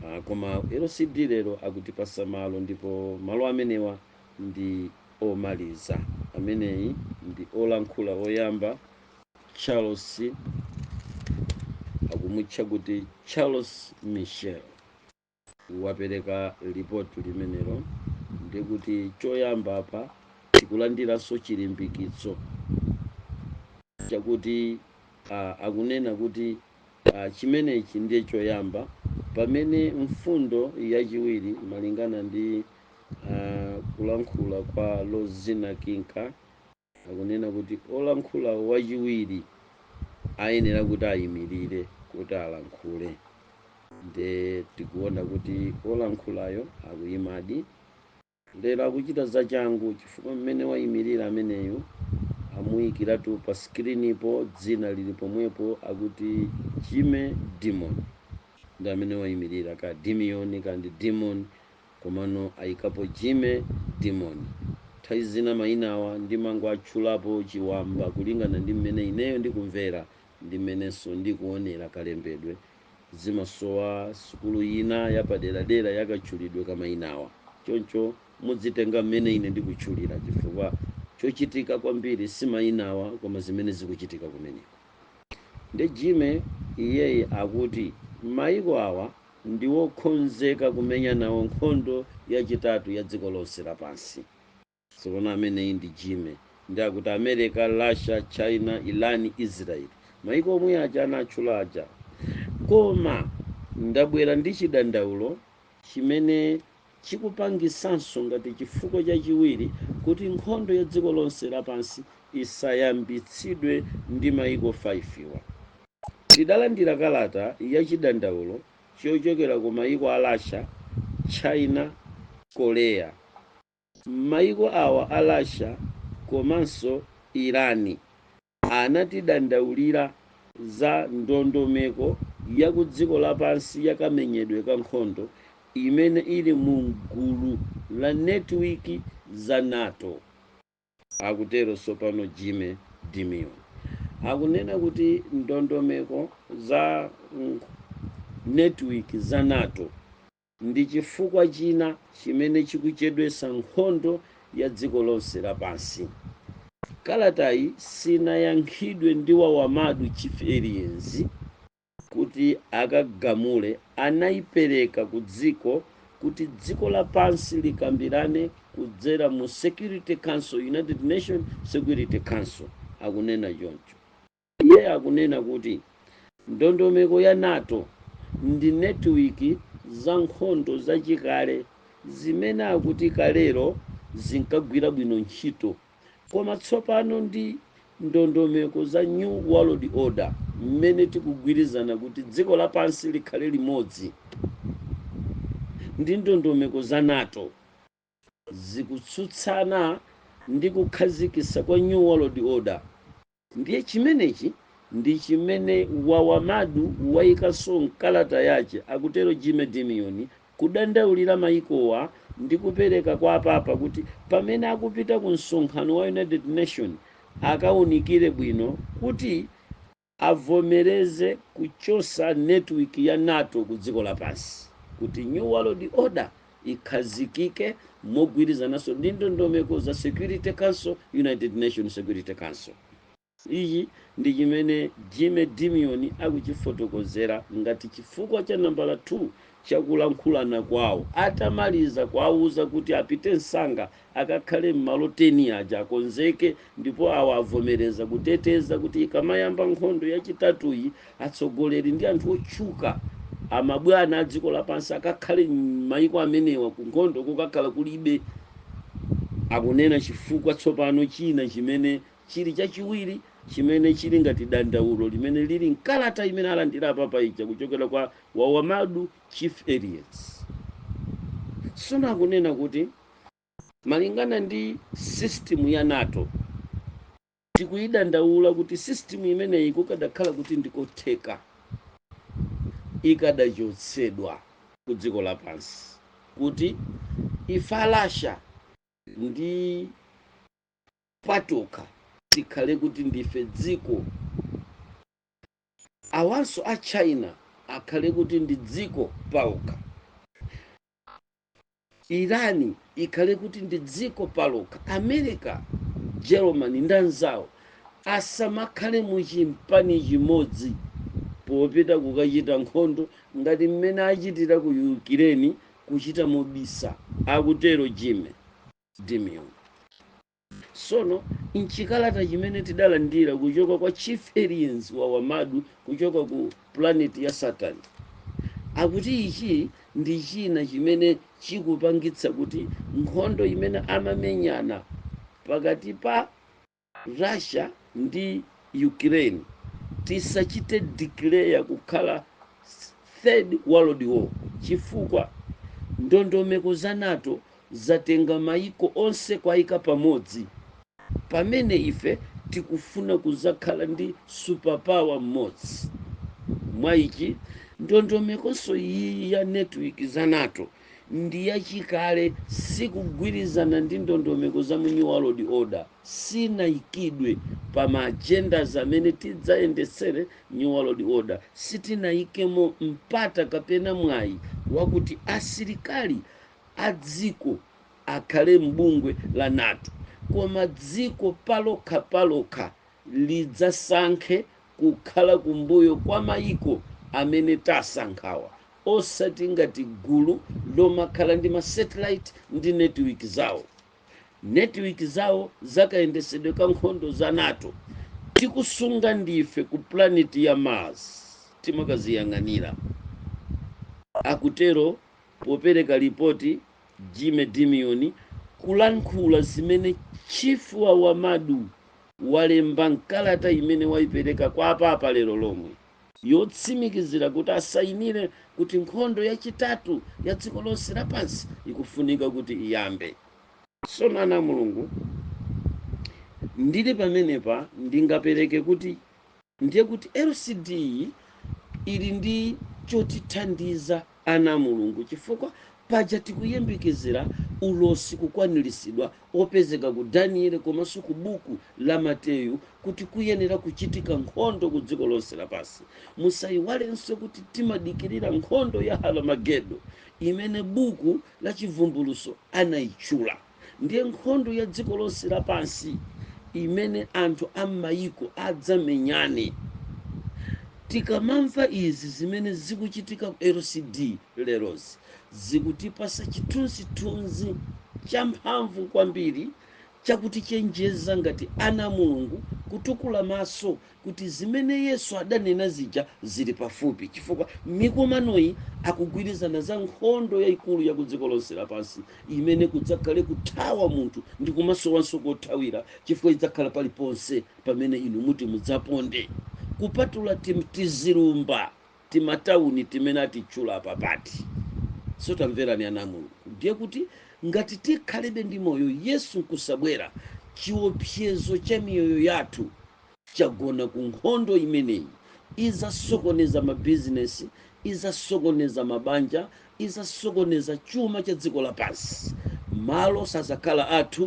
Ah, koma LCD lero akutipatsa malo ndipo malo amenewa ndi omaliza. Ameneyi ndi olankhula oyamba. charles akumutcha kuti charles michel wapereka lipoti limenelo ndikuti choyamba apa tikulandiranso chilimbikitso chakuti ah, akunena kuti ah, chimenechi ndiye choyamba pamene mfundo yachiwiri malingana ndi ah, kulankhula kwa lozina kinka akunena kuti olankhula wachiwiri ayenera kuti ayimirire kuti alankhule nde tikuona kuti olankhulayo akuyimadi lero akuchita zachangu chifukwa mmene wayimirira ameneyo amuyikiratu pa sikirinipo dzina lili pomwepo akuti jamie dimon ndi amene wayimirira ka dimiyoni kandi dimon Komano ayikapo Jamie, Dimon. Nthawi zina mayinawa ndimangowatchulapo chiwamwamba kulingana ndi mmene ineyo ndikumvera ndi mmenenso ndikuonera kalembedwe. Zimasowa sukulu ina yapaderadera ya katchulidwe ka mayinawa. Choncho mudzitenga mmene ine ndikutchulira chifukwa chochitika kwambiri si mayinawa koma zimene zikuchitika kumeneko. Nde Jamie iyeyu akuti mayiko awa. ndi wokonzeka kumenya nawo nkhondo yachitatu ya dziko lonse lapansi. Tsopano ameneyi ndi Jamie. Ndi akuti America, Russia, China, Iran, Israel. Maiko omwe aja anatchula aja. Koma ndabwera ndi chidandaulo chimene Chikupangitsanso ngati chifukwa chachiwiri kuti nkhondo ya dziko lonse lapansi isayambitsidwe ndi maiko 5 wa. Tidalandira kalata ya chidandaulo chochokera ku maiko a Russia, China, Korea. Maiko awa a Russia komanso Iran anatidandaulira za ndondomeko ya kudziko lapansi ya kamenyedwe ka nkhondo imene ili mu m'gulu la netiwiki za nato, akutero tsopano Jimmy Dimon. Akunena kuti ndondomeko za netiwiki za NATO. Ndi chifukwa china chimene chikuchedwetsa nkhondo ya dziko lonse lapansi. Kalatayi sinayankhidwe ndi Wawamadu Chief Aliens kuti akagamule anaipereka ku dziko kuti dziko lapansi likambirane kudzera mu Security Council, United Nations Security Council, akunena choncho. Iye akunena kuti ndondomeko ya NATO ndi netiwiki za nkhondo zachikale zimene akuti kalero zinkagwira bwino ntchito koma tsopano ndi ndondomeko za New World Order mmene tikugwirizana kuti dziko lapansi likhale limodzi ndi ndondomeko za NATO. zikutsutsana ndi kukhazikisa kwa new world order ndiye chimenechi ndi chimene wawamadu wayikanso mkalata yache akutero jimmy Dimon kudandaulira mayikowa ndi kupereka kwa apapa kuti pamene akupita ku msonkhano wa United Nations akaunikire bwino kuti avomereze kuchosa network ya NATO ku dziko lapansi kuti new world order ikhazikike mogwirizananso ndi ndondomeko za security council, United Nations security council. Ichi ndi chimene Jimmy Dimon akuchifotokozera ngati chifukwa cha nambala 2 cha kulankhulana kwawo atamaliza kuwauza kuti apite msanga akakhale m'malo 10 aja akonzeke ndipo awa avomereza kuteteza kuti ikamayamba nkhondo yachitatuyi, atsogoleri ndi anthu otchuka amabwana a dziko lapansi akakhale m'mayiko amenewa ku nkhondo kukakhala kulibe, akunena chifukwa tsopano china chimene chili chachiwiri chimene chili ngati dandaulo limene lili m'kalata imene alandira apapa ija kuchokera kwa Wawamadu Chief Aliens. Tsono akunena kuti. Malingana ndi system ya nato tikuyidandaula kuti system imeneyi kukadakhala kuti ndikotheka ikadachotsedwa ku dziko lapansi kuti ife a Russia patokha tikhale kuti ndife dziko awanso a China akhale kuti ndi dziko paokha. Irani ikhale kuti ndi dziko palokha. America, Germany ndi anzawo asamakhale mu chimpani chimodzi popita kukachita nkhondo ngati mmene achitira ku Yukireni kuchita mobisa, akutero Jimmy Dimion. Sono, m'chikalata chimene tidalandira kuchoka kwa Chief Aliens wa Wamadu kuchoka ku Planet ya Saturn, akuti ichi ndi china chimene chikupangitsa kuti nkhondo imene amamenyana pakati pa Russia ndi Ukraine tisachite declare kukhala Third World War chifukwa ndondomeko za nato zatenga maiko onse kwaika pamodzi pamene ife tikufuna kuzakhala ndi super power mmodzi mwa ichi ndondomekonso iyiyi ya network za nato ndi yachikale sikugwirizana ndi ndondomeko za mu new world order sinaikidwe pa ma agendas amene tidzayendetsere new world order sitinaikemo mpata kapena mwayi wakuti asilikali a dziko akhale m'bungwe la nato koma dziko palokha palokha lidzasankhe kukhala kumbuyo kwa mayiko amene tasankhawa osati ngati gulu lomakhala ndi ma satellite ndi netiwiki zawo netiwiki zawo za kayendesedwe ka nkhondo za nato tikusunga ndife ku pulaneti ya mars timakaziyang'anira akutero Popereka lipoti, Jimmy Dimion kulankhula zimene Chief Wawamadu walemba mkalata imene waipereka kwa aPapa lero lomwe yotsimikizira kuti asayinire kuti nkhondo yachitatu ya dziko lonse lapansi ikufunika kuti iyambe. Sono ana a Mulungu, ndili pamenepa ndingapereke kuti Ndiye kuti LCD yi ili ndi chotithandiza ana a Mulungu chifukwa paja tikuyembekezera ulosi kukwaniritsidwa opezeka ku Danieli komanso ku buku la Mateyu kuti kuyenera kuchitika nkhondo ku dziko lonse lapansi. Musaiwalenso kuti timadikirira nkhondo ya Haramagedo imene buku la Chivumbulutso anaitchula. Ndiye nkhondo ya dziko lonse lapansi imene anthu a m'mayiko adzamenyane. Tikamamva izi zimene zikuchitika ku LCD lerozi, zikutipatsa chithunzithunzi champhamvu kwambiri cha kutichenjeza ngati ana a Mulungu kutukula maso kuti zimene Yesu adanena zija zili pafupi chifukwa mikumanoyi akugwirizana za nkhondo yaikulu ya kudziko lonse lapansi imene kudzakhale kuthawa munthu ndi kumasowanso kothawira chifukwa idzakhala paliponse pamene inu muti mudzaponde kupatula tizilumba timatauni timene atitchula apapati so tamverani ana a mulungu ndiye kuti ngati tikhalebe ndi moyo yesu nkusabwera chiopsezo cha miyoyo yathu chagona ku nkhondo imeneyi. Idzasokoneza mabizinesi, idzasokoneza mabanja, idzasokoneza chuma cha dziko lapansi. Malo sadzakhala athu,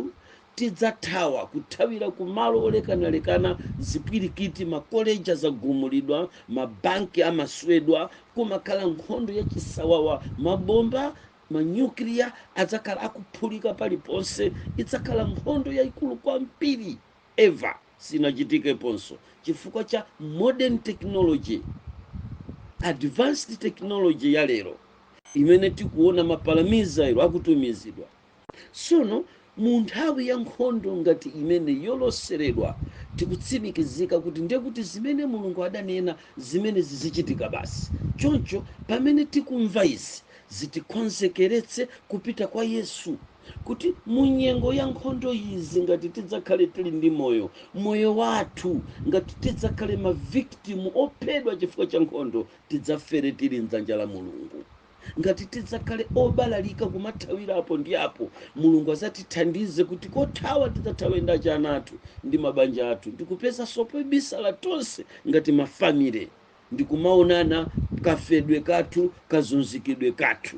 tidzathawa, kuthawira ku malo olekanalekana, zipwirikiti, makoleji adzagumulidwa, mabanki amaswedwa, kumakhala nkhondo yachisawawa, mabomba, manyukliya adzakhala akuphulika paliponse, idzakhala nkhondo yaikulu kwambiri. ever sinachitikeponso chifukwa cha modern technology advanced technology ya lero imene tikuona mapalamizairo akutumizidwa tsono mu nthawi ya nkhondo ngati imeneyi yoloseredwa tikutsimikizika kuti ndiye kuti zimene mulungu adanena zimene zizichitika basi choncho pamene tikumva izi zitikonzekeretse kupita kwa yesu kuti mu nyengo ya nkhondo izi ngati tidzakhale tili ndi moyo moyo wathu ngati tidzakhale maviktimu ophedwa chifukwa cha nkhondo tidzafere tili mdzanja la mulungu ngati tidzakhale obalalika kumathawira apo ndi apo mulungu azatithandize kuti kothawa tidzathawe ndi achana athu ndi mabanja athu ndikupezanso pobisala tonse ngati mafamile ndikumaonana kafedwe kathu kazunzikidwe kathu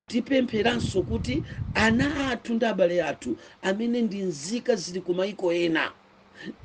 Tipempheranso kuti ana athu ndi abale athu amene ndi nzika zili ku maiko ena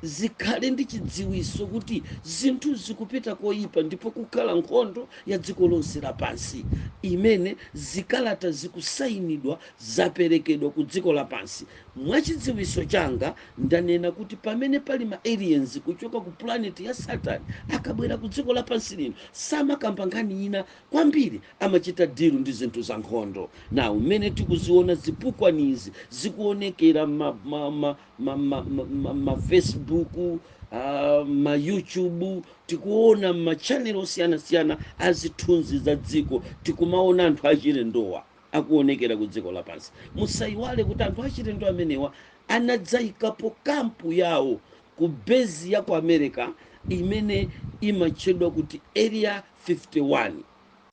zikhale ndi chidziwitso kuti zinthu zikupita koyipa ndipo kukhala nkhondo ya dziko lonse lapansi imene zikalata zikusayinidwa zaperekedwa ku dziko lapansi. Mwa chidziwitso changa ndanena kuti pamene pali ma aliens kuchoka ku planet ya Saturn akabwera ku dziko lapansi lino samakamba nkhani ina kwambiri. Amachita deal ndi zinthu za nkhondo. Now mmene tikuziona zipukwanizi zikuonekera mma Facebook ah, ma YouTube tikuona mma channel osiyanasiyana a zithunzi za dziko tikumaona anthu achilendowa akuonekera ku dziko lapansi. Musaiwale kuti anthu achilendo amenewa anadzaikapo kampu yawo ku base ya ku America imene imatchedwa kuti Area 51.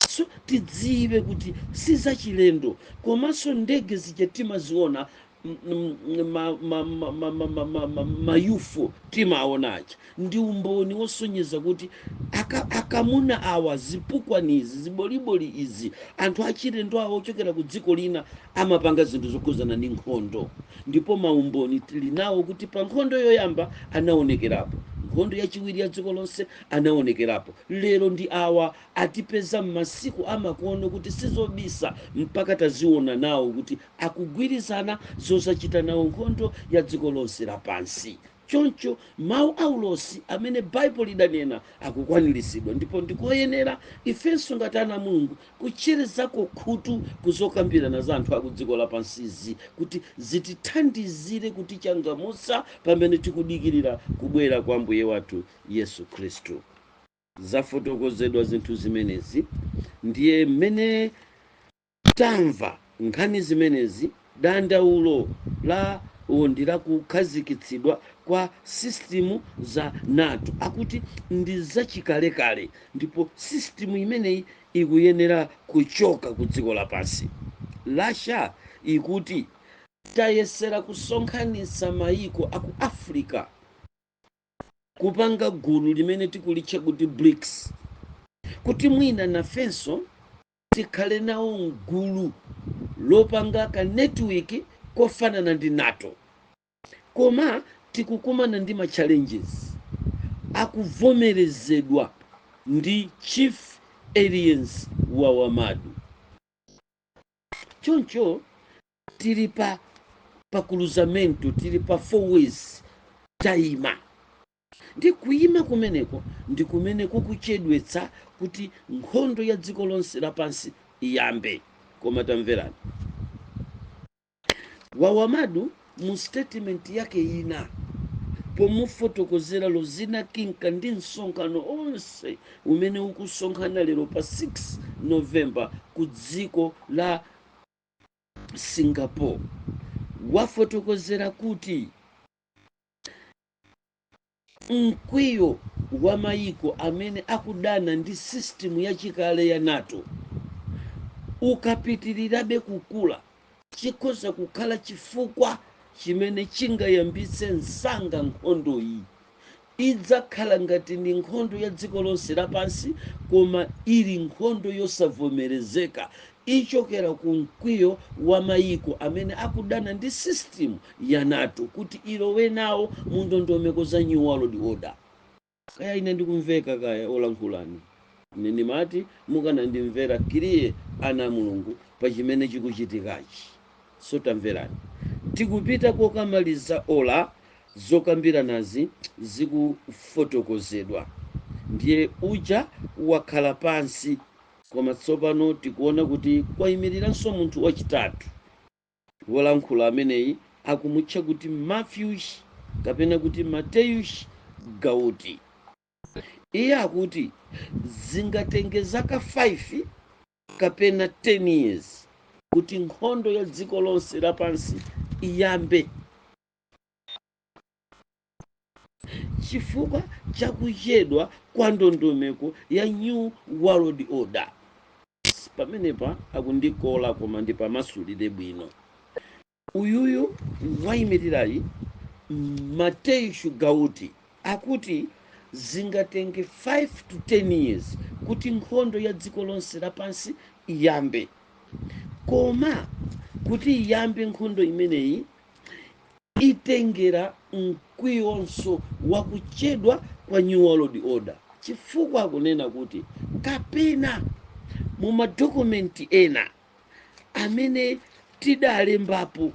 So tidziwe kuti sizachilendo komanso ndege zija timaziona ma UFO timaona aja ndi umboni wosonyeza kuti aka akamuna awa zipukwani izi ziboliboli izi anthu achilendo awa ochokera ku dziko lina amapanga zinthu zokhudzana ndi nkhondo ndipo maumboni tili nawo kuti pa nkhondo yoyamba anaonekerapo nkhondo yachiwiri ya dziko lonse anawonekerapo lero ndi awa atipeza mmasiku amakono kuti sizobisa mpaka taziwona nawo kuti akugwirizana zozachita nawo nkhondo ya dziko lonse lapansi choncho mawu a ulosi amene bible lidanena akukwaniritsidwa ndipo ndikoyenera ifenso ngati ana a Mulungu kutcherezako khutu ku zokambirana za anthu aku dziko lapansizi kuti zitithandizire kutichangamutsa pamene tikudikilira kubwera kwa Ambuye wathu Yesu Khristu. Zafotokozedwa zinthu zimenezi, ndiye mmene tamva nkhani zimenezi, dandaulo lawo ndi la kukhazikitsidwa kwa sisitimu za NATO. Akuti ndi zachikalekale ndipo sisitimu imeneyi ikuyenera kuchoka ku dziko lapansi. Russia ikuti tayesera kusonkhanitsa mayiko a ku Africa kupanga gulu limene tikulitcha kuti BRICS kuti mwina nafenso tikhale nawo mgulu lopanga ka network kofanana ndi NATO koma tikukumana ndi ma challenges akuvomerezedwa ndi chief aliens wa wamadu choncho tili pa pa cruzamento tili pa four ways tayima ndi kuyima kumeneko ndi kumene kukuchedwetsa kuti nkhondo ya dziko lonse lapansi iyambe koma tamverani Wawamadu mu sitetimenti yake ina pomufotokozera Lozina Kinka ndi msonkhano onse umene ukusonkhana lero pa 6 November ku dziko la Singapore wafotokozera kuti Mkwiyo wa mayiko amene akudana ndi sisitimu yachikale ya nato ukapitirirabe kukula, chikhoza kukhala chifukwa chimene chingayambitse msanga nkhondoyi. Idzakhala ngati ndi nkhondo ya dziko lonse lapansi koma ili nkhondo yosavomerezeka Ichokera ku mkwiyo wa mayiko amene akudana ndi system ya nato kuti ilowe nawo mu ndondomeko za new world order. Kaya ine ndikumveka kaya olankhulani? Ine ndimati mukanandimvera clear ana a Mulungu pa chimene chikuchitikachi. So tamverani. Tikupita kokamaliza ola zokambiranazi zikufotokozedwa. Ndiye uja wakhala pansi Koma tsopano tikuona kuti kwaimiriranso munthu wachitatu. Wolankhula ameneyi akumutcha kuti Mathews, kapena kuti Mateyus Gauti. Iye akuti zingatenge zaka 5 kapena 10 years kuti nkhondo ya dziko lonse lapansi iyambe. chifukwa cha kuchedwa kwa ndondomeko ya new world order pamenepa akundikola koma ndipamasulire bwino uyuyu wayimirirayi mateyus gauti akuti zingatenge 5 to 10 years kuti nkhondo ya dziko lonse lapansi iyambe koma kuti iyambe nkhondo imeneyi Itengera mkwiyonso wa kuchedwa kwa New World Order, chifukwa akunena kuti kapena mu madokomenti ena amene tidalembapo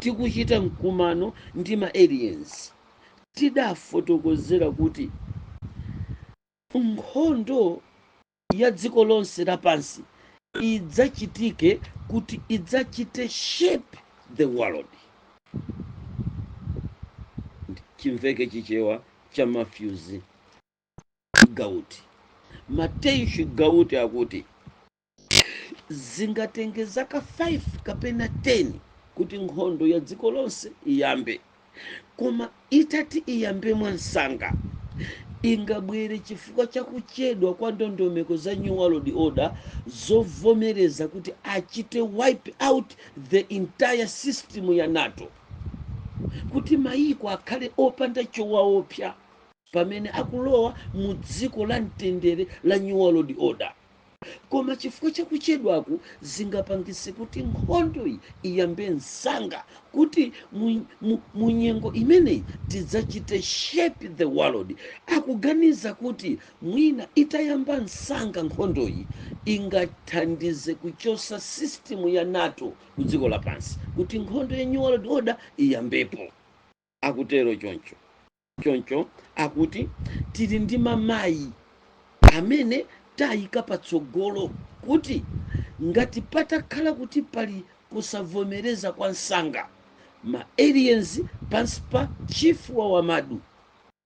tikuchita mkumano ndi ma aliens, tidafotokozera kuti nkhondo ya dziko lonse lapansi idzachitike kuti idzachite shape the world chimveke chichewa cha Mathews Gauti Mathews Gauti akuti zingatenge zaka 5 kapena 10 kuti nkhondo ya dziko lonse iyambe koma itati iyambe mwamsanga ingabwere chifukwa cha kuchedwa kwa ndondomeko za new world order zovomereza kuti achite wipe out the entire system ya nato kuti mayiko akhale opanda chowaopsa pamene akulowa mu dziko la mtendere la New World Order. Koma chifukwa cha kuchedwaku, zingapangitse kuti nkhondoyi iyambe msanga, kuti mu, mu, mu nyengo imeneyi tidzachite shape the world. Akuganiza kuti mwina itayamba msanga nkhondoyi ingathandize kuchotsa system ya nato ku dziko lapansi kuti nkhondo ya New World Order iyambepo. akutero choncho akuti tili ndi mamayi amene tayika patsogolo kuti ngati patakhala kuti pali kusavomereza kwa msanga ma aliens pansi pa chief wa wamadu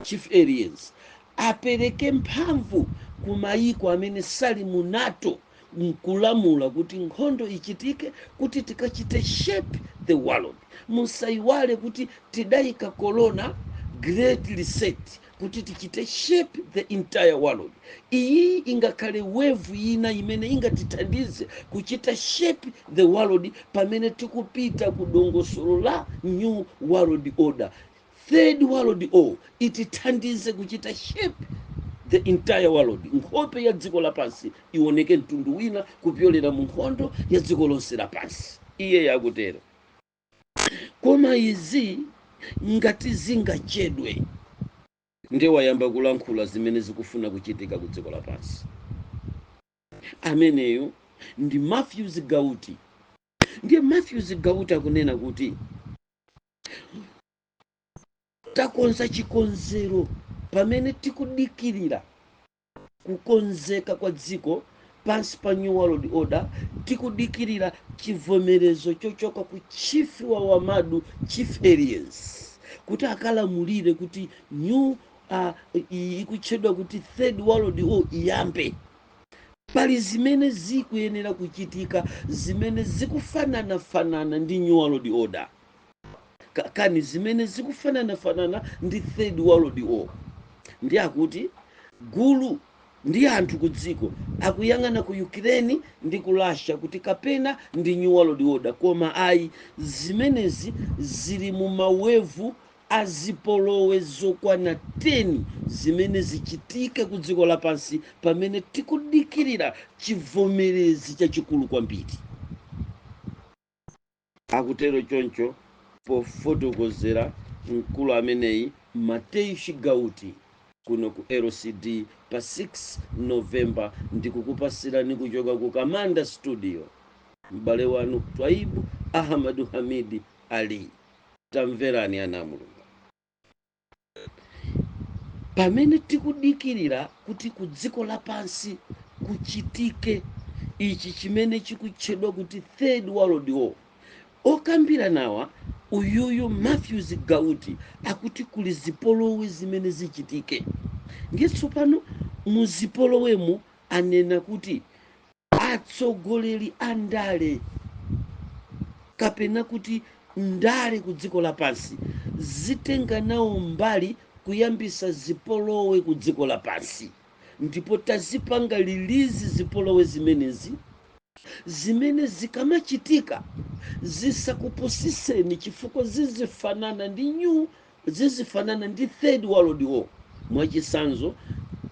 chief aliens apereke mphamvu ku mayiko amene sali mu nato nkulamula kuti nkhondo ichitike kuti tikachite shape the world musaiwale kuti tidaika corona great reset kuti tichite shape the entire world iyi ingakhale wave ina imene ingatithandize kuchita shape the world pamene tikupita ku dongosolo la new world order Third world war itithandize kuchita shape the entire world, nkhope ya dziko lapansi iwoneke mtundu wina kupyolera mu nkhondo ya dziko lonse lapansi, iye akutero. Koma izi ngati zingachedwe ndiye wayamba kulankhula zimene zikufuna kuchitika ku dziko lapansi. Ameneyo ndi Mathews Gauti. Ndiye Mathews Gauti akunena kuti takonza chikonzero pamene tikudikirira kukonzeka kwa dziko pansi pa New World Order, tikudikirira chivomerezo chochoka ku chief wa Wamadu chief aliens kuti akalamulire kuti New uh, ikutchedwa kuti third world war iyambe pali zimene zikuyenera kuchitika zimene zikufananafanana ndi new world order kani zimene zikufananafanana ndi third world war ndiye akuti gulu la anthu ku dziko akuyang'ana ku ukraine ndi ku russia kuti kapena ndi new world order koma ayi zimenezi zili mu mawevu a zipolowe zokwana 10 zimene zichitike kudziko lapansi pamene tikudikirira chivomerezi chachikulu kwambiri, akutero choncho pofotokozera mkulu ameneyi Matthews Gauti kuno ku LCD pa 6 November ndikukupasirani kuchoka ku Kamanda studio m'bale wanu Twaibu Ahmadu Hamid Ali. Tamverani ana a Mulungu, pamene tikudikirira kuti ku dziko lapansi kuchitike ichi chimene chikutchedwa kuti third world war, okambira nawa uyuyu Matthews Gauti akuti kuli zipolowe zimene zichitike. Ndiye tsopano mu zipolowemo anena kuti Atsogoleri a ndale kapena kuti ndale ku dziko lapansi zitenga nawo mbali kuyambisa zipolowe ku dziko lapansi ndipo tazipanga lilizi zipolowe zimenezi zimene zikamachitika zisakupusiseni chifukwa zizifanana ndi new Zizifanana ndi Third World War, mwachisanzo,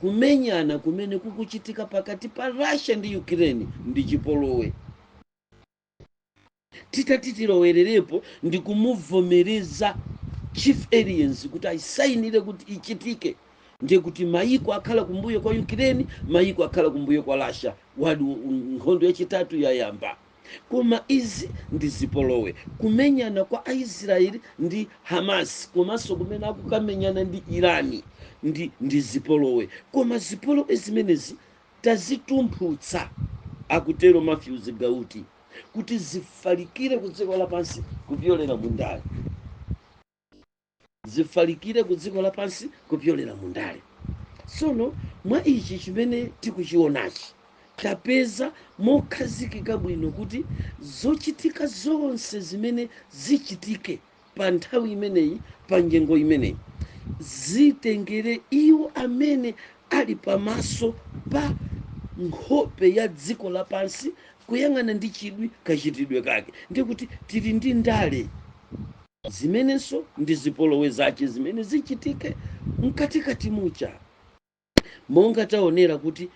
kumenyana kumene kukuchitika pakati pa Russia ndi Ukraine ndi chipolowe. Titati tilowererepo ndi kumuvomereza Chief Aliens kuti ayisainire kuti ichitike, ndiye kuti mayiko akhala kumbuyo kwa Ukraine, mayiko akhala kumbuyo kwa Russia, wadi, nkhondo yachitatu yayamba. Koma izi ndi zipolowe. Kumenyana kwa Aisraeli ndi Hamas komanso kumene akukamenyana ndi Iran ndi ndi zipolowe. Koma zipolowe zimenezi tazitumphutsa, akutero Matthews Gauti, kuti zifalikire kudziko lapansi kupyolera mu ndale. zifalikire ku dziko lapansi kupyolera mu ndale tsono mwa ichi chimene tikuchionachi tapeza mokhazikika bwino kuti zochitika zonse zimene zichitike pa nthawi imeneyi pa nyengo imeneyi zitengere iwo amene ali pamaso pa nkhope ya dziko lapansi kuyang'ana ndi chidwi kachitidwe kake ndiye kuti tili ndi ndale zimenenso ndi zipolowe zache zimene zichitike mkatikati muja monga taonera kuti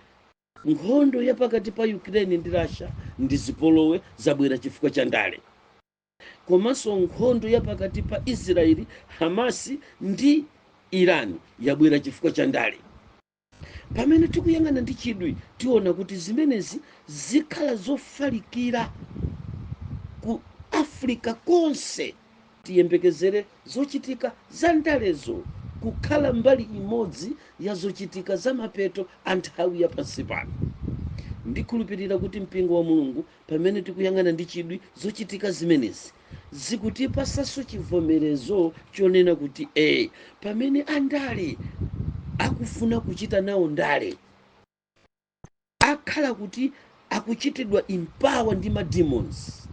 nkhondo ya pakati pa ukraine ndi russia ndi zipolowe zabwera chifukwa cha ndale komanso nkhondo ya pakati pa israeli hamasi ndi iran yabwera chifukwa cha ndale Pamene tikuyang'ana ndi chidwi, tiona kuti zimenezi zikhala zofalikira ku Africa konse. Tiyembekezere zochitika za ndalezo kukhala mbali imodzi ya zochitika za mapeto a nthawi ya pansi pano. Ndikhulupirira kuti Mpingo wa Mulungu, pamene tikuyang'ana ndi chidwi zochitika zimenezi, zikutipasanso chivomerezo chonena kuti ee, pamene andale akufuna kuchita nawo ndale, akhala kuti akuchitidwa empower ndi ma demons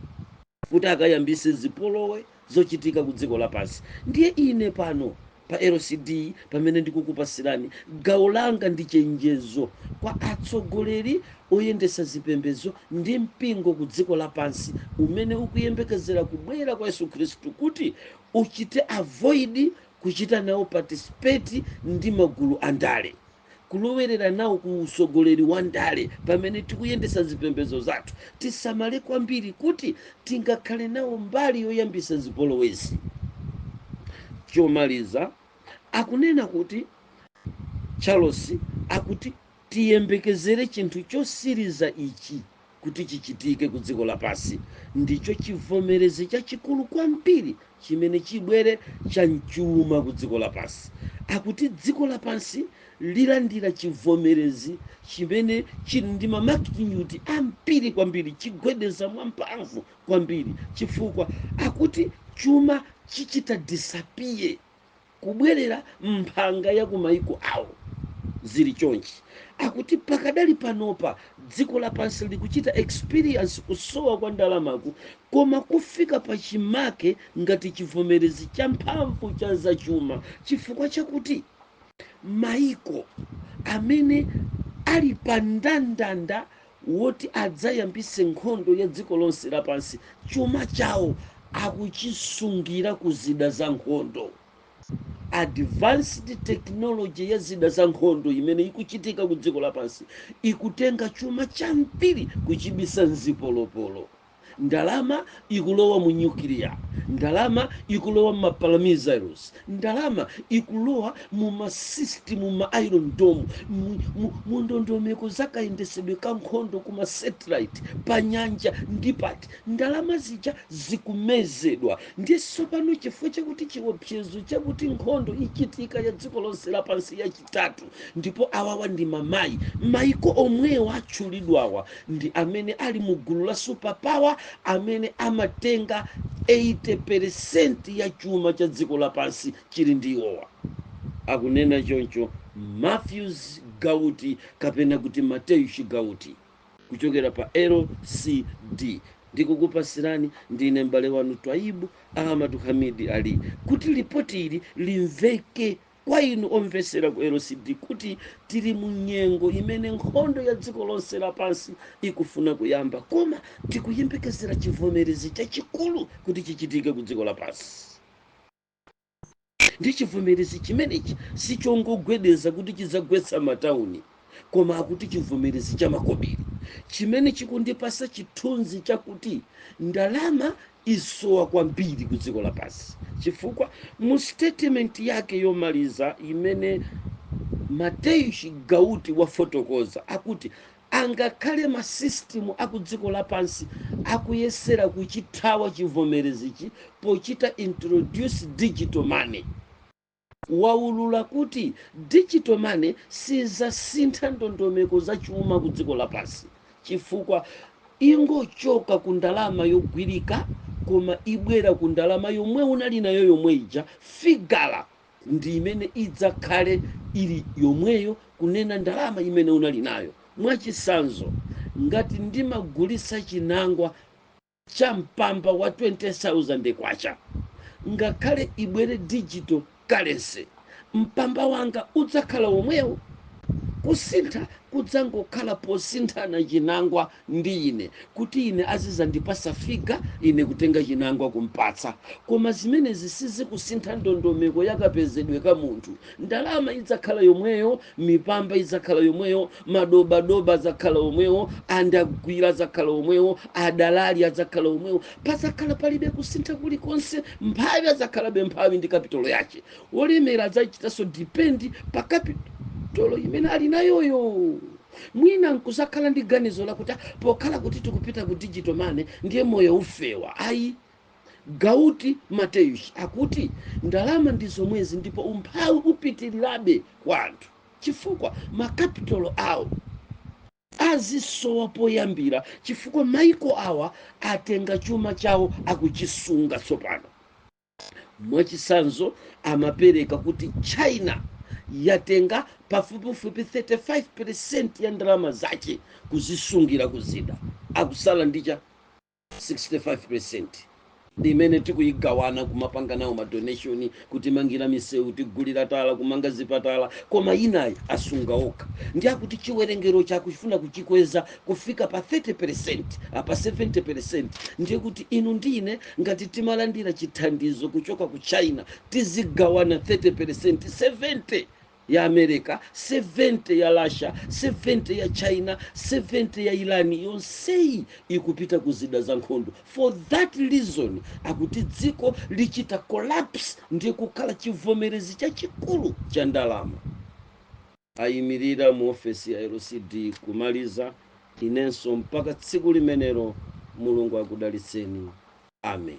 kuti akayambise zipolowe zochitika kudziko lapansi. Ndiye ine pano Pa LCD pamene ndikukupasirani gawo langa ndi chenjezo kwa atsogoleri oyendesa zipembezo ndi mpingo ku dziko lapansi umene ukuyembekezera kubwera kwa Yesu Khristu kuti uchite avoid kuchita nawo participate ndi magulu andale. kulowerera nawo ku usogoleri wa ndale pamene tikuyendesa zipembezo zathu tisamale kwambiri kuti tingakhale nawo mbali yoyambisa zipolowezi chomaliza akunena kuti charles akuti tiyembekezere chinthu chosiriza ichi kuti chichitike ku dziko lapansi, ndicho chivomerezi chachikulu kwambiri chimene chibwere cha m'chuma ku dziko lapansi, akuti dziko lapansi lilandira chivomerezi chimene chili ndi mamagnitude ambiri kwambiri, chigwedeza mwamphamvu kwambiri, chifukwa akuti chuma chichita disappear kubwerera m'mphanga ya kumaiko awo. Zili chonchi, akuti pakadali panopa dziko lapansi likuchita experience kusowa kwa ndalamaku koma kufika pachimake ngati chivomerezi champhamvu cha zachuma chifukwa chakuti maiko amene ali pa ndandanda woti adzayambise nkhondo ya dziko lonse lapansi, chuma chawo akuchisungira ku zida za nkhondo. Advanced technology ya zida za nkhondo imene ikuchitika ku dziko lapansi ikutenga chuma chambiri kuchibisa m'zipolopolo. ndalama ikulowa mu nyukiliya, ndalama ikulowa mma power missiles, ndalama ikulowa mu ma system, mu ma iron dome, mu, mu, mu ndondomeko za kayendesedwe ka nkhondo ku ma satellite, pa nyanja ndi pati, ndalama zija zikumezedwa. Ndiye tsopano chifukwa chakuti chiopsezo chakuti nkhondo ichitika ya dziko lonse lapansi ya chitatu ndipo awawa ndi mamayi, maiko omwewa atchulidwawa ndi amene ali mu gulu la super power amene amatenga 80 peresenti ya chuma cha dziko lapansi chili ndi iwowa, akunena choncho Mateusz Gauti kapena kuti Mateusz Gauti kuchokera pa LCD. Ndikukupasirani ndine m'bale wanu Twaibu Ahmad Hamid Ali kuti lipoti ili limveke kwa inu omvesera ku lcd kuti tili mu nyengo imene nkhondo ya dziko lonse lapansi ikufuna kuyamba koma tikuyembekezera chivomerezi chachikulu kuti chichitike ku dziko lapansi ndi chivomerezi chimenechi sichongogwedeza kuti chidzagwetsa matauni koma akuti chivomerezi cha makobiri chimene chikundipasa chithunzi chakuti ndalama isowa kwambiri ku dziko lapansi chifukwa mu statement yake yomaliza imene mateusz gauti wafotokoza akuti angakhale masisitimu akudziko lapansi akuyesera kuchithawa chivomerezichi pochita introduce digital money waulula kuti digital money sizasintha ndondomeko za chuma ku dziko lapansi chifukwa ingochoka ku ndalama yogwirika koma ibwera ku ndalama yomwe unali nayo yomwe ija, figa ndi imene idzakhale ili yomweyo kunena ndalama imene unali nayo. Mwachisanzo ngati ndimagulisa chinangwa. cha mpamba wa K20,000 ngakhale ibwere digital currency mpamba wanga udzakhala womwewo kusintha kudzangokhala posinthana chinangwa ndi ine kuti ine azizandipasa figa ine kutenga chinangwa kumpatsa koma zimenezi sizikusintha ndondomeko yakapezedwe ka munthu ndalama idzakhala yomweyo mipamba idzakhala yomweyo madobadoba adzakhala omwewo andagwira adzakhala omwewo adalali adzakhala omwewo padzakhala palibe kusintha kulikonse mphawi adzakhalabe mphawi ndi kapitolo yache wolemera adzachitanso dipendi pa kapitolo imene ali nayoyo mwina nkuzakhala ndi ganizo lakuti "Ah, pokhala kuti tikupita ku digital money ndiye moyo ufewa ayi gauti mateusz akuti ndalama ndi zomwezi ndipo umphawi upitirirabe kwa anthu chifukwa makapitalo awo azisowa poyambira chifukwa maiko awa atenga chuma chawo akuchisunga tsopano mwachisanzo amapereka kuti china yatenga pafupifupi 35 peresenti ya ndalama zache kuzisungira kuzida akusala ndicha 65% ndi imene tikuyigawana kumapanga nawo ma donation kutimangira misewu kutigulira tala kumanga zipatala koma yinayi asunga okha ndi akuti chiwerengero akuchifuna kuchikweza kufika pa 30% pa 70% ndiye kuti inu ndi ine ngati timalandira chithandizo kuchoka ku china tizigawana 30% 70 ya America, 70 ya Russia, 70 ya China, 70 ya Iran, yonseyi ikupita ku zida za nkhondo. For that reason, akuti dziko lichita collapse ndi kukhala chivomerezi chachikulu cha ndalama. Ayimirira mu ofesi ya LCD kumaliza inenso mpaka tsiku limenelo. Mulungu akudalitseni. Amen.